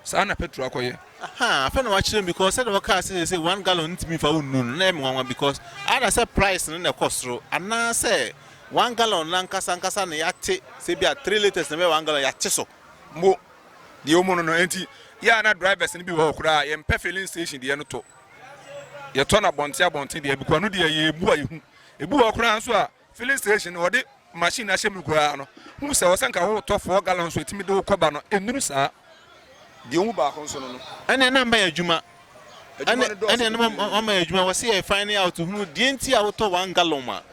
S4: saa na petrol akɔ yɛ. Ahaa afei na wakyerɛ
S1: mu because sɛdeɛ wɔkaa sɛ sɛ one gallon ntumi nfa wo nnuru no na ɛyɛ me nwanwa because ada sɛ price no na ɛkɔ soro anaasɛ one gallon no ankasa ankasa na yɛate
S4: sɛ bi
S1: a three litres na ɛbɛyɛ
S4: one
S1: gallon yɛate so mpo deɛ wɔmu no no
S4: nti
S1: yɛ
S4: a na drivers no bi wɔ hɔ koraa yɛmpɛ filling station deɛ no tɔ yɛtɔ no abɔnten abɔnten deɛ bikɔ no deɛ yɛbu a yɛhu ebi wɔ hɔ koraa nso a Filling station no wɔde machine no ahyɛ mu koraa no, hu sɛ ɔsɛ nka wotɔ four gallons a ɛtumi de wo kɔba no, ɛnnuru saa. Deɛ ɔmu baako nso no no. Ɛneɛ na mmayɛ adwuma.
S1: Adwuma no dɔɔso bebree. Ɛneɛ na mmayɛ adwuma, wɔse yɛ finding out hunu deɛ nti a wotɔ one gallon a,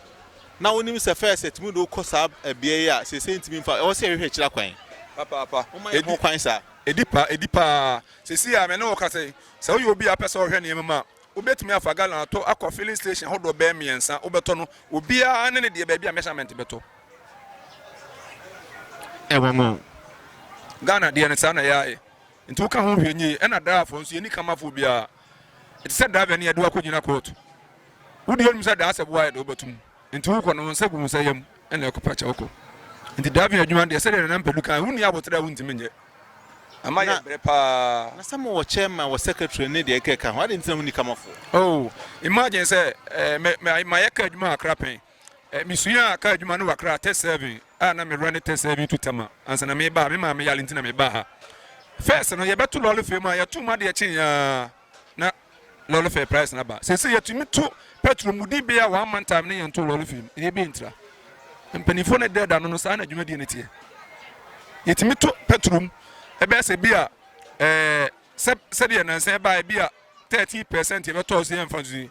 S1: na wonim sɛ first ɛtumi de wo kɔ saa ɛbeaɛ yi a seesei ntumi mfa, ɛwɔ sɛ yɛhwehwɛ akyiri akwan. Papaapa. Woma
S4: yɛ ho kwan saa.
S1: Ɛdi pa, ɛdi paa.
S4: Seesei a me ne wo kasa yi, sɛ woyɛ obi a wopɛ sɛ wohwɛ nneɛma mu a, wobɛtumi afa gallon atɔ akɔ filling station ahodoɔ bɛyɛ mmiɛnsa wobɛtɔ no obiara ne ne deɛ baabi a measurement bɛtɔ
S1: ɛwɔ no
S4: Ghana deɛ no saa na yɛayɛ nti woka ho hwɛ nyie ɛna driverfoɔ nso yɛni kamafoɔ biara ɛte sɛ driver ne yɛde wakɔgyina court wodeɛ nim sɛ daa sɛ boa yɛde wobɛtom Nti wokɔ no wo nsa gu wo nsa yam na ɛkɔpa kyɛ wokɔ. Nti driving adwuma no deɛ sɛdeɛ Nana Mpadu kae, wonni aboterɛ a wontumi nyɛ. Ama yɛ brɛ paa. Na sɛ mowɔ chairman,
S1: wɔ secretary ne deɛ ɛkeka ho a, adɛn nti na wonni kamafoɔ? Oh,
S4: imagine sɛ eh, mayɛ car adwuma wɔ Accra pɛn. Eh, mesuaa car adwuma no wɔ Accra, test serving, a na merun ne test serving to Tema ansa na meba ha. Me maame yare nti na mebaa ha. First no, yɛbɛto lɔre fam a, yɛtoo mu adeɛ kyeeɛ ara. na lɔre fare price no aba. Seesei yɛtumi to pɛtro mu di bea a wɔn amantam ne yɛntoo lɔre fee mu. Ɛyɛ bi ntra. Mpanimfoɔ no ɛdɛ da no no saa na dwumadie no teɛ. Yɛtumi to pɛtro mu ɛbɛyɛ sɛ bi a ɛɛ sɛ sɛdeɛ nansa ɛbaa ɛbi a thirty percent yɛbɛtɔɔ so yɛmfa nso yi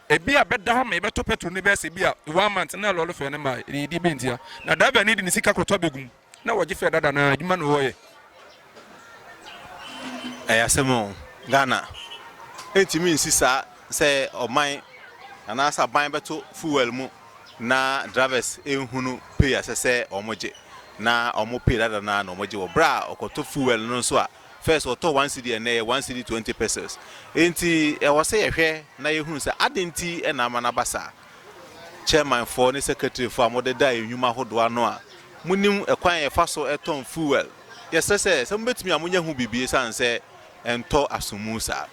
S4: ebi a bɛda hɔ ma yɛbɛtɔ petrol no bɛyɛ sɛ bi a one month na lɔre fɛ no ma yɛdi bi ntia na driver no de ne sika kɔtɔ bɛgu mu na wɔgye fɛ dada na adwuma na wɔyɛ.
S1: Ɛyɛ asɛm o. Ghana ntumi nsi saa sɛ ɔman anaasɛ aban bɛto fuel mu na drivers nhunu pay a ɛsɛ sɛ wɔgye na wɔn pay dada no ara na wɔgye wɔ berɛ a ɔkɔtɔ fuel no nso a first ɔtɔ one cedi ɛnɛ yɛ one cedi twenty pesos. Enti ɛwɔ sɛ yɛhwɛ na yɛhunu sɛ adɛn nti na ama no aba saa. Chairmanfoɔ ne Secretaryfoɔ a mode da yɛn nnwuma ahodoɔ ano a monim kwan a yɛfa so tɔn fuel. Yɛsrɛ sɛ, sɛ mobɛtumi a monyɛ ho biribi ɛsiane sɛ ɛntɔ asomu saa.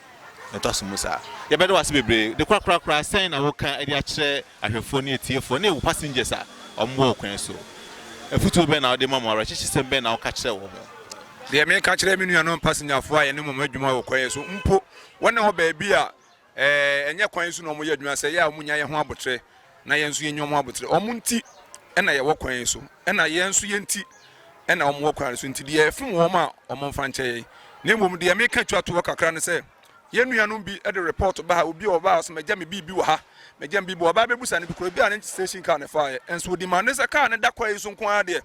S1: Ɛntɔ asomu saa. Yɛbɛda wo ase bebree. De korakora koraa, sɛn na woka de akyerɛ ahwɛfoɔ ne atiefoɔ ne wo passengers a wɔwɔ wo kwan so? Afutuo bɛn na wode ma wɔn? Awerɛkyekyesɛm bɛn na woka kyerɛ wɔn? Deɛ meka
S4: kyerɛ me nuanom passengerfoɔ a yɛne wɔn adwuma wɔ kwan so mpo, wɔne wɔ baabi a Ɛnyɛ kwan yi so na wɔyɛ adwuma, sɛ yɛ a wɔnya yɛn ho aboterɛ na yɛn nso yɛnya wɔn aboterɛ. Wɔn nti na yɛwɔ kwan yi so, ɛna yɛn nso yɛn nti na wɔn wɔ kwan no so, nti deɛ ɛfom wɔn a, wɔmfa nkyɛ yɛn. Na mmom deɛ meka twa toɔ kakra ne sɛ, yɛn nuanom bi de report ba ha, obi a ɔbaa ɔse magya me biribi wɔ ha, magya me biribi wɔ ha, ɔbaa bɛbusa no bi koraa, ebia ne station car na ɛfaaeɛ, nso ɔde ma no sɛ kaa no da kwan yi so nko ara deɛ,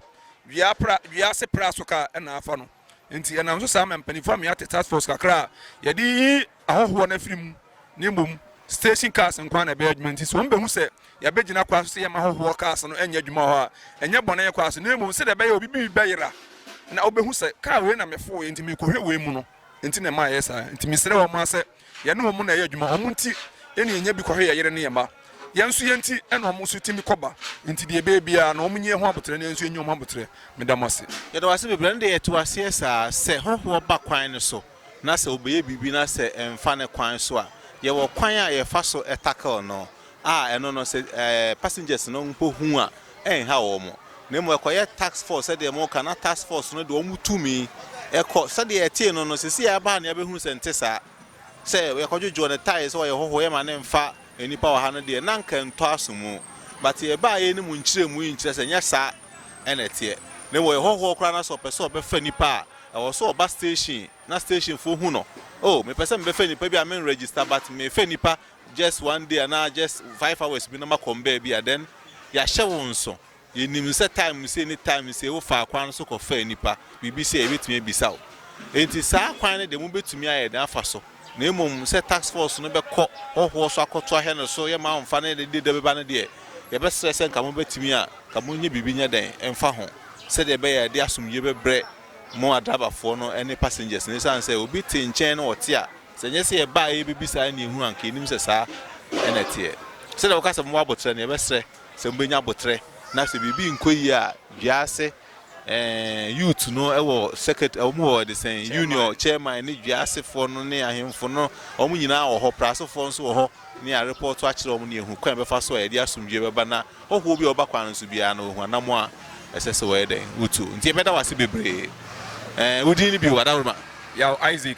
S4: dua pra, dua ase pra so kaa na afa no. Enti ɛnam so saa ma mpanyimfo amia te task force kakra a yɛde yiyi ahɔhoɔ no afiri mu ne mmom station cars nko ara na ɛbɛyɛ adwuma nti sɛ wɔn bɛhu sɛ yɛabɛgyina kwa so sɛ yɛmma ahɔhoɔ cars no nyɛ adwuma wɔ hɔ a ɛnyɛ bɔne kwa so na mmom sɛdeɛ ɛbɛyɛ obi bi bɛyera na ɔbɛhu sɛ car wei na mefooeɛ nti mekɔhwɛ wei mu no nti na ɛma ɛyɛ saa nti mesrɛ wɔn ara sɛ Yɛne wɔn na ɛyɛ adwuma, wɔn nti na yɛnya bi kɔhwɛ yɛn yere ne yɛn mma. Yɛn nso yɛn nti na wɔn nso tumi kɔ ba, enti deɛ ɛbɛyɛ biara no, wɔn nyi yɛn ho aboterɛ na yɛn nso yɛnyi wɔn ho aboterɛ. Meda mo ase. Yɛda wo ase bebree. Ɛnde
S1: yɛte aseɛ saa. Sɛ hɔhoɔ ba kwan no so na sɛ ɔbɛyɛ biribi na sɛ ɛmfa ne kwan so a, yɛwɔ kwan a yɛfa so tackle no. a ɛno no sɛ passengers no mpo hu a ɛnhaw wɔn na mmom ɛkɔyɛ task force sɛdeɛ moka na task force no de wɔn tumi ɛkɔ sɛdeɛ ɛtee no no sɛsi a ɛbaa na yɛbɛhunu sɛ nte saa sɛ yɛkɔdwodwoɔ no tae sɛ ɔyɛ hɔhoɔ yɛma ne mfa nnipa wɔ ha no deɛ na nka ntɔ aso mu but yɛbaa yɛ no mu nkyerɛmu yi nkyerɛ sɛ nyɛ saa ɛna ɛteɛ na mmom ɔyɛ hɔhoɔ koraa na sɛ ɔpɛ sɛ ɔbɛfa nipa a ɛwɔ so ɔba station na stationfoɔ hu no oh mepɛ sɛ mebɛfa nipa bi a menregister but mefa nipa just one day anaa just five hours bi na ma kɔm baabi a then yɛahyɛ wo nso yɛnim sɛ time sei ne time sei wofaa kwan no so kɔfaa nnipa biribi sei a yɛbɛtumi abisa wo enti saa kwan no deɛ mobɛtumi ayɛ den afa so na mmom sɛ task force no bɛkɔ hɔhoɔ so akɔto ahwɛ no so yɛ ma mfa no yɛ de da bɛba no deɛ yɛbɛsrɛ sɛ nka mobɛtumi a ka monyɛ biribi nyɛ dɛn mfa ho sɛdeɛ ɛbɛyɛ a ɛde asomdwie bɛbrɛ mo adrabafoɔ no ne passengers no ɛsiane sɛ obi te nkyɛn na ɔte a Sɛ ɛnyɛ sɛ yɛba a yɛrebɛbisa ɛnneɛ ɛhunu anka yɛnim sɛ saa na ɛteɛ. Sɛdeɛ wɔka sɛ momma aboterɛ no, yɛbɛsrɛ sɛ mobɛnya aboterɛ na sɛ biribi nkɔ yie a dua ase eh, youth no wɔ secretary, wɔn wɔ de sɛn, union chairman ne dua asefoɔ no ne ahemfo no, wɔn nyinaa wɔ hɔ, prasofoɔ nso wɔ hɔ ne arepɔɔto akyerɛ wɔn ne yɛhu kwan bɛfa so a yɛde asomdwie bɛba na hɔhoɔ bi a wɔba kwan no so biara no wɔhu anamo a ɛsɛ sɛ wɔyɛ dɛn wotu. Nti yɛbɛda wase bebree. Eh, wo din no bio, Adaworoma? Yaw
S4: Isaac.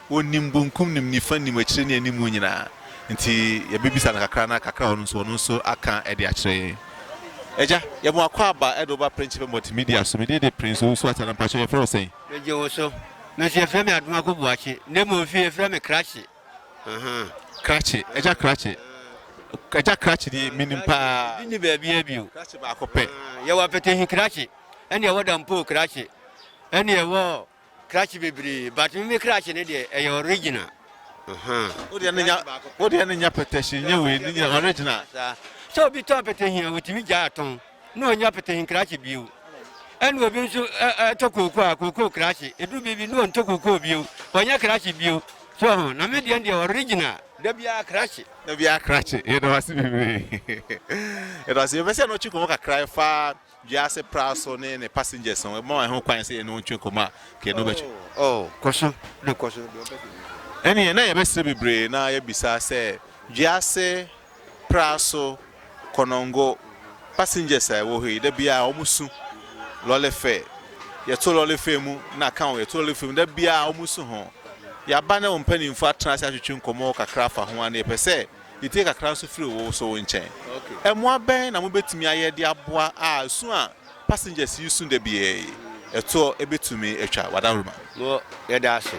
S1: Ɔnim bonkum nim nifa nim akyire ne animu nyinaa nti yɛbɛbisa no kakra na kakra a ɔnim nso ɔno nso aka de akyerɛ yɛn. Agya, yɛma wakɔ aba de wo ba Prɛnkyepɛ Multimedia so. Me din de Prince Owusu Atana. Mpakyɛ yɛfrɛ wo sɛn? Megye wo so.
S5: Me nso yɛfrɛ me Adomaku Boakye na mmom fie yɛfrɛ me Krakye.
S1: Krakye, Agya Krakye. Agya Krakye deɛ menim pa ara. Krakye bi nni baabiara bio.
S5: Krakye baako pɛ.
S1: Yɛwɔ Apɛtɛhi
S5: Krakye ɛne ɛwɔ Dampoo Krakye ɛne ɛwɔ krakye bebree but me me krakye ne deɛ ɛyɛ original ahaa.
S1: Wo deɛ ne nya wo deɛ ne nya pɛtɛhye nyɛ wei ne nya original. Sɛ obi tɔ
S5: apɛtɛhi a otumi gya atɔn na ɔnya apɛtɛhi krakye bio ɛna obi nso ɛtɔ kookoo a kookoo krakye edu biribi na ɔntɔ kookoo bio ɔnya krakye bio so ɔho na me deɛ deɛ original da biara krakye. Da biara krakye
S1: yɛda wase bebree yɛda wase yɛbɛsɛ na ɔtwe kɔmɔ kakra ɛfa. Wiase pra so ne ne passengers no ɛbɛma wahu kwan sɛ yɛne wo ntwe nkɔmmɔ a kɛ na wobɛtwe. Oh,
S5: oh, kɔ so na kɔ so, deɛ wobɛka biara.
S1: Ɛnneɛ na yɛbɛsrɛ bebree na yɛabisa sɛ wiase pra so kɔnɔngo passengers a ɛwɔ hɔ yi, da biara wɔsu lɔre fare. Yɛto lɔre fare mu na ka ho, yɛto lɔre fare mu, da biara wɔsu ho. Yɛaba na wo mpanimfoɔ atena ase atwetwe nkɔmmɔ kakra afa ho a na yɛpɛ sɛ Etie kakra nso firi wo wosow nkyɛn. Mmoa bɛn na mubetumi ayɛ de aboa a su a passengers yi su da biara yi toɔ betumi atwa w'adawurubɔ? Mo, yɛda ase.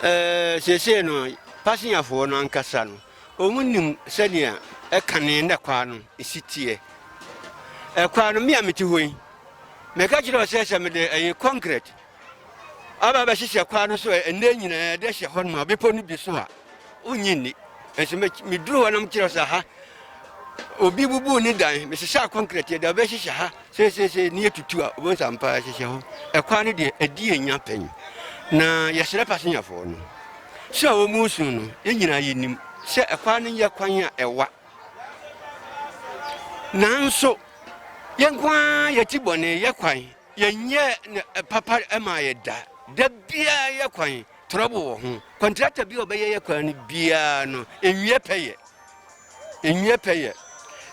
S5: Ɛɛ, seesei no, passengerfoɔ no ankasa no, wɔnim sɛnea ɛkane na kwan no si teɛ. Ɛkwan no, me a mete hɔ yi, meka kyerɛ wo sɛ sɛ mede ɛyi concrete aba abɛhyehyɛ kwan no so ɛnnɛ nyinaa de ahyɛ hɔ noma bepɔ no bi so a, wonnye nni. Nso meduru hɔ na mekyerɛ sɛ ha, obi bubu ne dan, mesesa kɔnkrɛt de abɛhyehyɛ ha seeseesei ne yɛtutu a, wobɛhu sɛ ampa ahyehyɛ hɔ. Ɛkwan no deɛ, ɛdi yɛn nya pɛn. Na yɛsrɛ pasenyafoɔ no sɛ a wɔn nsu no, yɛn nyinaa yɛnim sɛ ɛkwan no nyɛ kwan a ɛwa. Nanso, yɛn nko ara yɛti bɔne yɛ kwan. Yɛnyɛɛ no papa maa yɛ da. Da biara yɛ kwan, trɔbo wɔ ho. Kɔntrakta bi a ɔbɛyɛ yɛ kwan no biara no, enwiɛ pɛ yɛ. Enwiɛ pɛ yɛ.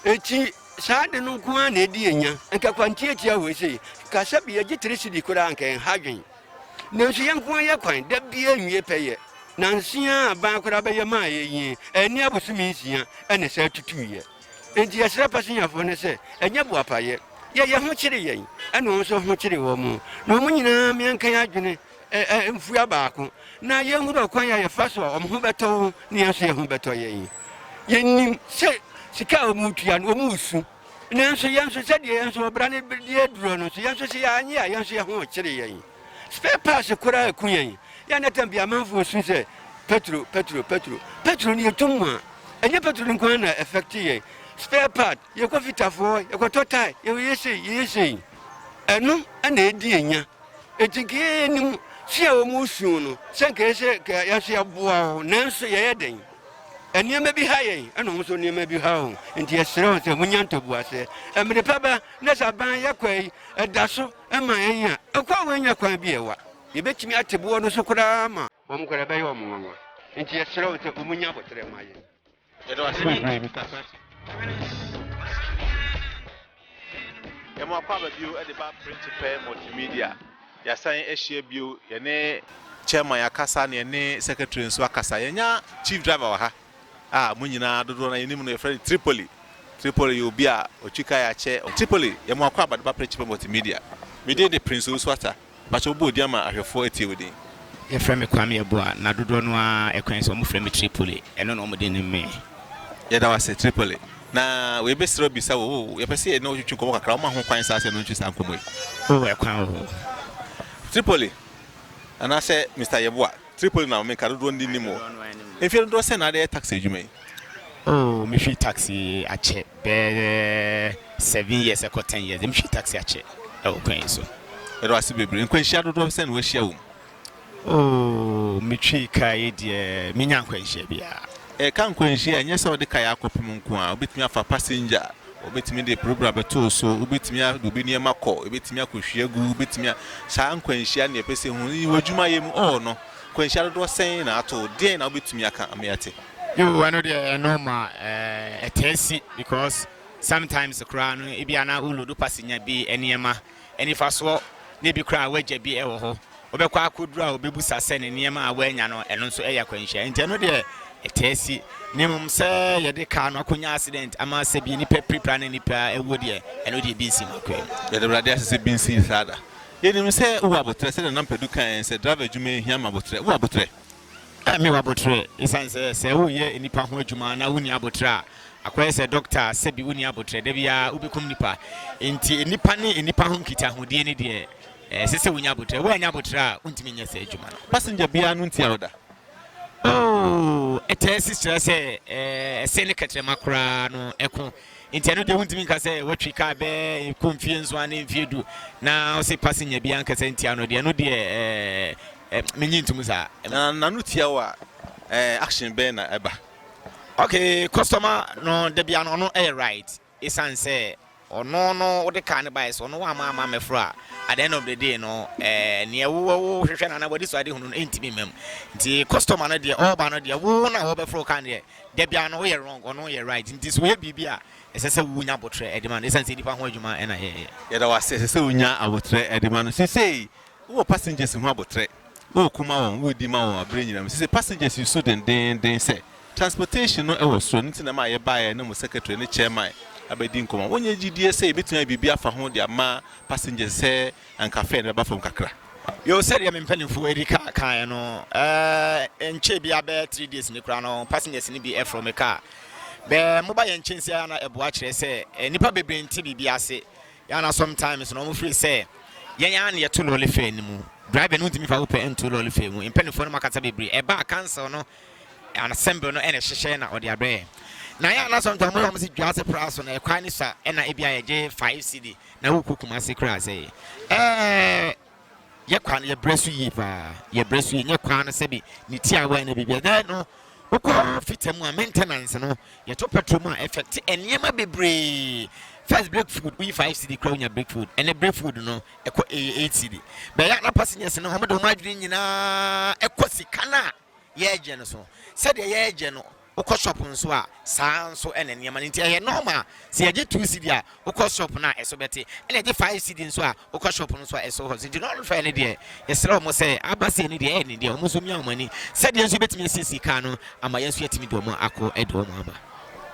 S5: Enti saa ade no nko ara na edi yɛn nya. Nka kwan tiatia hɔ sei, ka sɛ bi yɛgye tere sidi koraa anka yɛn ha dwen. Nanso yɛn nko ara yɛ kwan, da biara enwiɛ pɛ yɛ. Nanse ara aban koraa bɛyɛ maa yɛn yi, ɛnne abosome nsia na ɛsan tutuiɛ. Enti yɛsrɛ pasenyafo no sɛ ɛnyɛ boapayɛ. Yɛ yɛn ho kyere yɛn, ɛna wɔn nso ho kyere wɔn, na wɔn nyinaa ma yɛnka yɛn adwene mfua baako, na yenhunu ɔkwan a yɛfa so a wɔn ho bɛtɔ wɔn na yɛn nso yɛn ho bɛtɔ yɛn. Yenim sɛ sika a wɔretua no, wɔresu. Nanso yɛn nso, sɛdeɛ yɛn nso ɔbra no di aduro no nso, yɛn nso sɛ yɛanyɛ a, yɛn nso yɛn ho rekyere yɛn. Spare parts koro a ɛko yɛn yɛ a na tam bi amanfoɔ resu sɛ Petro, Petro, Petro, Petro no yɛtɔ mu a, ɛnyɛ Petro no nko ara na affect yɛn. Spare part, yɛkɔ fitafoɔ, yɛkɔtɔ tae, yɛyɛ sei, yɛyɛ sei. Ɛno na ɛdi yɛn nya. Enti nka yɛnim su a wɔn resu no, sɛ nka yɛ sɛ nka yɛn nso yɛboa wɔn, nanso yɛyɛ dɛn? Nneɛma bi ha yɛn, ɛna wɔn nso nneɛma bi ha wɔn. Enti yɛsrɛ wɔn sɛ monya ntoboaseɛ. Mmere pa ba na sɛ aban yɛkɔe, ɛda so. Ɛma yenya ɛkwan a wɔanya kwan bi a ɛwa. Yɛbɛtumi ate boɔ no so koraa ma. Wɔn koraa ɛbɛyɛ wɔn nwanwa. Nti yɛsrɛ wɔn sɛ wɔn nya aboterɛ ma yɛn. Yɛda wo ase bebree
S1: Mister Kwesi. Yɛma wakɔ aba bio de ba Printupɛ Multimedia. Yɛasan ahyia bio. Yɛne Chairman akasa na yɛne Secretary nso akasa. Yɛanya Chief Driver wɔ ha. a mo nyinaa dodoɔ no ara yɛnim no, yɛfrɛ no Tripoli. Tripoli yɛ obi a ɔtwi kae akyɛ. Tripoli, yɛ mo akwaaba de ba Princepe Multimedia. Me din de Prince Owusu Atta. Mpakyɛ wo bɔ wo din ama ahwɛfoɔ atie wo din. Yɛfrɛ me Kwame
S6: Abua, na dodoɔ no ara ɛkwan sɛ wɔfrɛ me Tripoli, ɛno na wɔde nim me. Yɛda wo ase
S1: Tripoli. Na wei bɛ serɛ bisa wo, oh, yɛpɛ sɛ yɛne wo twetwe nkɔmmɔ kakra, woma ho kwan saa sɛ yɛne wo ntwe saa nkɔmmɔ yi? Oh, ɛkwan wɔ hɔ.
S6: Tripoli,
S1: anaasɛ Mister Yeboah. Tripoli na meka dodoɔ no nnim o. Mfeɛ dodoɔ sɛn na adeyɛ taxi adwuma yi? Oh me hwii
S6: taxi akyɛ bɛyɛ seven years ɛkɔ ten years deɛ me hwii taxi akyɛ ɛwɔ kwan yi so. Yɛda wo ase bebree.
S1: Nkwanhyia dodoɔ sɛn na wahyia wɔ mu? Oh
S6: me twii kaa yi deɛ me nya nkwanhyia biara.
S1: Ɛka nkwanhyia a
S6: ɛnyɛ
S1: sɛ wode kaa
S6: akɔpem
S1: nko ara,
S6: wobɛtumi
S1: afa passenger. Wɔbɛtumi de program bɛto wo so, wobɛtumi a de obi nneɛma kɔ, ɛbɛtumi akɔhwie agu, wobɛtumi a saa nkwanhyia ne ɛpɛ sɛ hu yi wɔ adwuma yɛ mu ɔɔ no nkwanhyia dodoɔ sɛn na ato deɛn na wobɛtumi aka ama yɛate. Yoo ɛno deɛ
S6: ɛyɛ normal ɛɛ ɛtaa si because sometimes koraa no ebia na wo load passenger bi nneɛma anifasoɔ na ebi koraa a wagya bi wɔ hɔ. Wobɛkɔ akɔduru a ɔbɛbusa sɛ ne nneɛma a wanya no, ɛno nso yɛ akwanhyia. Enti ɛno deɛ ɛtaa si. Na mmom sɛ yɛde kaa no akɔnya accident ama sɛ bi nnipa pirapira ne nnipa awuo deɛ, ɛno deɛ ebi nsi m'akwaa mu. Yɛda Awurade ase sɛ
S1: ebi nsii saa da. Yɛnim sɛ wowɔ aboterɛ sɛdeɛ na Mpadu kaeɛ sɛ driver adwuma yɛ hia ma aboterɛ. Wowɔ aboterɛ? Ɛmmea
S6: abotire. Esiane sɛ sɛ woreyɛ nnipa ho adwuma na wunni abotire a, akɔyɛ sɛ dɔkta a sɛbi wunni abotire, da biara wubekum nnipa. Enti nnipa ne nnipa ho nkitahodie no deɛ, ɛsɛ sɛ wunya abotire. Woannya abotire a, wuntumi nyɛ saa adwuma no. Passenger biara no ntia
S1: wo da. Oh,
S6: ɛtaa si kyerɛ sɛ ɛsɛn ne kɛtrɛma koraa no ɛko. Enti ɛno deɛ wuntumi nka sɛ watwi kaa bɛkɔ mfie nson anaa mfie du na wo se passenger biara ankasa ntia no deɛ, ɛno deɛ ɛɛ. Eh, me nyi ntum saa. Eh, Na n'ano tia wo
S1: a, eh, action bɛn na ɛba? Ok,
S6: customer no da bia no ɔno ɛyɛ right esan sɛ ɔno no wode car no bae so ɔno wamma amma ammɛforo a, at the end of the day no eh, neɛ wo wo hwehwɛ no anaa w'ani so ade hunu no ɛntumi mma mu. Nti customer no deɛ ɔreba no deɛ wo na wɔbɛforo car no deɛ da bia no woyɛ wrong ɔno yɛ right. Nti sɛ ɔyɛ biribi a ɛsɛ sɛ wonya abotrɛ ɛde ma no esan sɛ nnipa ho adwuma ɛna yɛyɛ. Yɛda wo ase,
S1: ɛsɛ sɛ wonya abotrɛ ɛde ma no. Sesei Wowɔ passengers ho aboterɛ, woreko ma wɔn, woredi ma wɔn aberɛ nyinaa. Mesese passengers yi so dendeenden sɛ transportation no wɔ soro, ɛno nti na ɛma yɛbaeɛ na mo secretary ne chairman abɛdi nkɔmmɔ. Wonyɛ gyidie sɛ yɛbɛtumi ayɛ biribi afa ho de ama passengers sɛ anka fare no bɛba fam kakra? Yoo, sɛdeɛ me
S6: mpanimfoɔ Erika kaeɛ no, ɛnkyɛɛ biara bɛyɛ three days ni koraa no, passengers no bi foroo me car. Bɛɛ moba yɛn nkyɛn sei ara na ɛboa kyerɛ sɛ nnipa bebree nte biribi ase Yɛa na sometimes no ɔmo feel sɛ yɛn ara na yɛto lɔɔle fare no mu. Driver no ntumi fa wo pɛ nto lɔɔle fare mu. Mpaninfoɔ no makasa bebree. Ɛba a council no and assembly no na ɛhyehyɛ na ɔde abrɛ yɛn. Na yɛa na sometimes ɔmo yɛ ɔmo se Dwase pra so na ɛkwan no sua ɛna ebia yɛgye five cedi na wokɔ Kumasi koraa sɛ ɛɛ. Yɛ kwan yɛ brɛ so yie paa yɛ brɛ so yie nyɛ kwan no sɛbi ne tiawa ɛna biribi ɛdɛ no wokɔ fita mu a maintenance no yɛ to petrol mu a ɛfɛ te nneɛma bebree first break food woyi five cd kura wonya break food ɛnɛ break food no ɛkɔ ɛyɛ eight cd bɛyɛ ana passengers no wɔn de wɔn adwene nyinaa ɛkɔ sika no a yɛregye no so sɛdeɛ yɛregye no Wokɔ shop nso a, saa ara nso na nneɛma no nti ɛyɛ normal. Sɛ yɛgye two cedi a, wokɔ shop no a ɛso bɛte. Ɛna yɛgye five cedi nso a, wokɔ shop no nso a ɛso hɔ. So nti wɔn hwɛɛ no deɛ, yɛsrɛ wɔn sɛ aba sei no deɛ ɛyɛ den deɛ, wɔn nso mia wɔn ani sɛdeɛ nso yɛbɛtumi asiesie car no ama yɛn nso yɛatumi de wɔn akɔ de wɔn aba.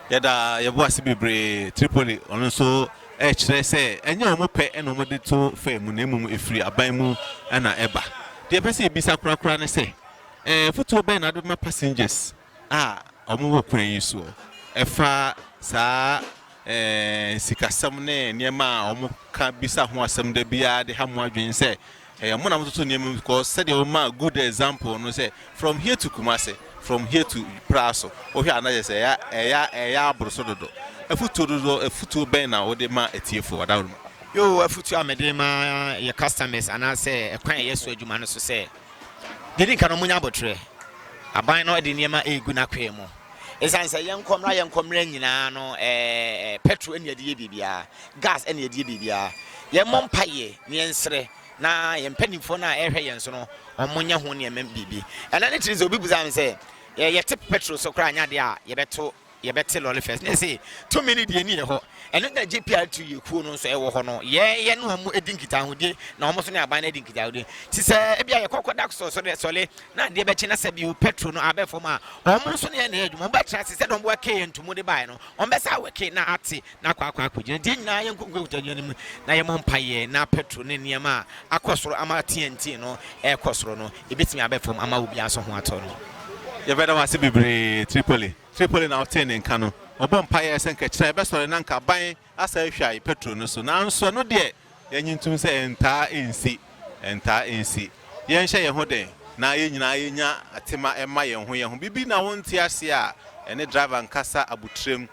S6: Yɛda
S1: yɛn bo ase bebree Tripoli, wɔn nso rekyerɛ sɛ ɛnyɛ wɔn pɛ na wɔde to fam na mmom ɛfiri aban mu na ɛba. Deɛ yɛpɛ sɛ yɛbisa korakora ne sɛ, Mfutoo bɛn na wode bɛma passengers a ɔmo wɔ kwan yi soɔ ɛfa saa sikasɛm ne nneɛma a ɔmo ka bisa ho asɛm da biara de ha mo adwene sɛ ɛyɛ ɔmo na ɔmo toto nneɛma mu because sɛdeɛ ɔmo maa good example no sɛ from here to Kumasi from here to Praso wohwɛ a na yɛ sɛ ɛyɛ ɛyɛ ɛyɛ aboroso dodo afutuo dodo afutuo bɛn na wode ma atiefo adaworo mu. Yoo afutuo a
S6: mede ma yɛ customers anaasɛ ɛkwan a yɛ so adwuma no so sɛ. Deɛ ɛdi nka no, monya aboterɛ. Aban no de nneɛma regu n'akwaa mu. Ɛsiane sɛ yɛnkɔ mmra yɛnkɔ mmra nyinaa no, ɛɛ pɛtro na yɛde yɛ biribiara, gas na yɛde yɛ biribiara. Yɛmmɔ mpaeɛ na yɛnsrɛ na yɛn mpanimfoɔ no a ɛrehwɛ yɛn so no, wɔnyɛ ho nneɛma biribi. Ɛnna ne tiri sɛ obi bisaa me sɛ, yɛte pɛtro so koraa nyɛ adeɛ a yɛbɛto yɛbɛte lɔle fɛs ne se tumi ne deɛ ni yɛ hɔ ɛno na JPRT yɛ kuo no nso ɛwɔ hɔ no yɛ yɛ ne wɔn edi nkitahodie na wɔn nso ne aban no edi nkitahodie ti sɛ ebi a yɛ kɔkɔ da so sɔle sɔle na adeɛ bɛkye na sɛ bi o petro no abɛ fam a wɔn nso ne yɛ na yɛ adwuma wɔn bɛtra se sɛ wɔn bɛ kee ntomo de baa no wɔn bɛ sa awɛ kee na ate na akɔ akɔ akɔgyina. Deɛ nyinaa yɛ nkutankutɛ adwuma no mu na yɛmmɔ mpaeɛ na petrol ne nneɛma a akɔ soro ama TNT no rekɔ soro no, ɛbɛtumi abɛ fam ama obiara nso ho atɔ no. Yɛbɛda wo ase
S1: bebree Tripoli. Tripoli na wotee ne nka no. Wɔbɔ mpaeɛ sɛ nka kyerɛ ɛbɛsɔre na nka aban asɛ ahwae petrol no so. Nanso ɛno deɛ yɛnye ntom sɛ ɛntaa ɛnsi. Ɛntaa ɛnsi. Yɛnhyɛ yɛn ho den na yɛn nyinaa yɛnya atema mma yɛn ho yɛn ho. Biribi na wonte aseɛ a, ɛne driver nkasa abotire mu.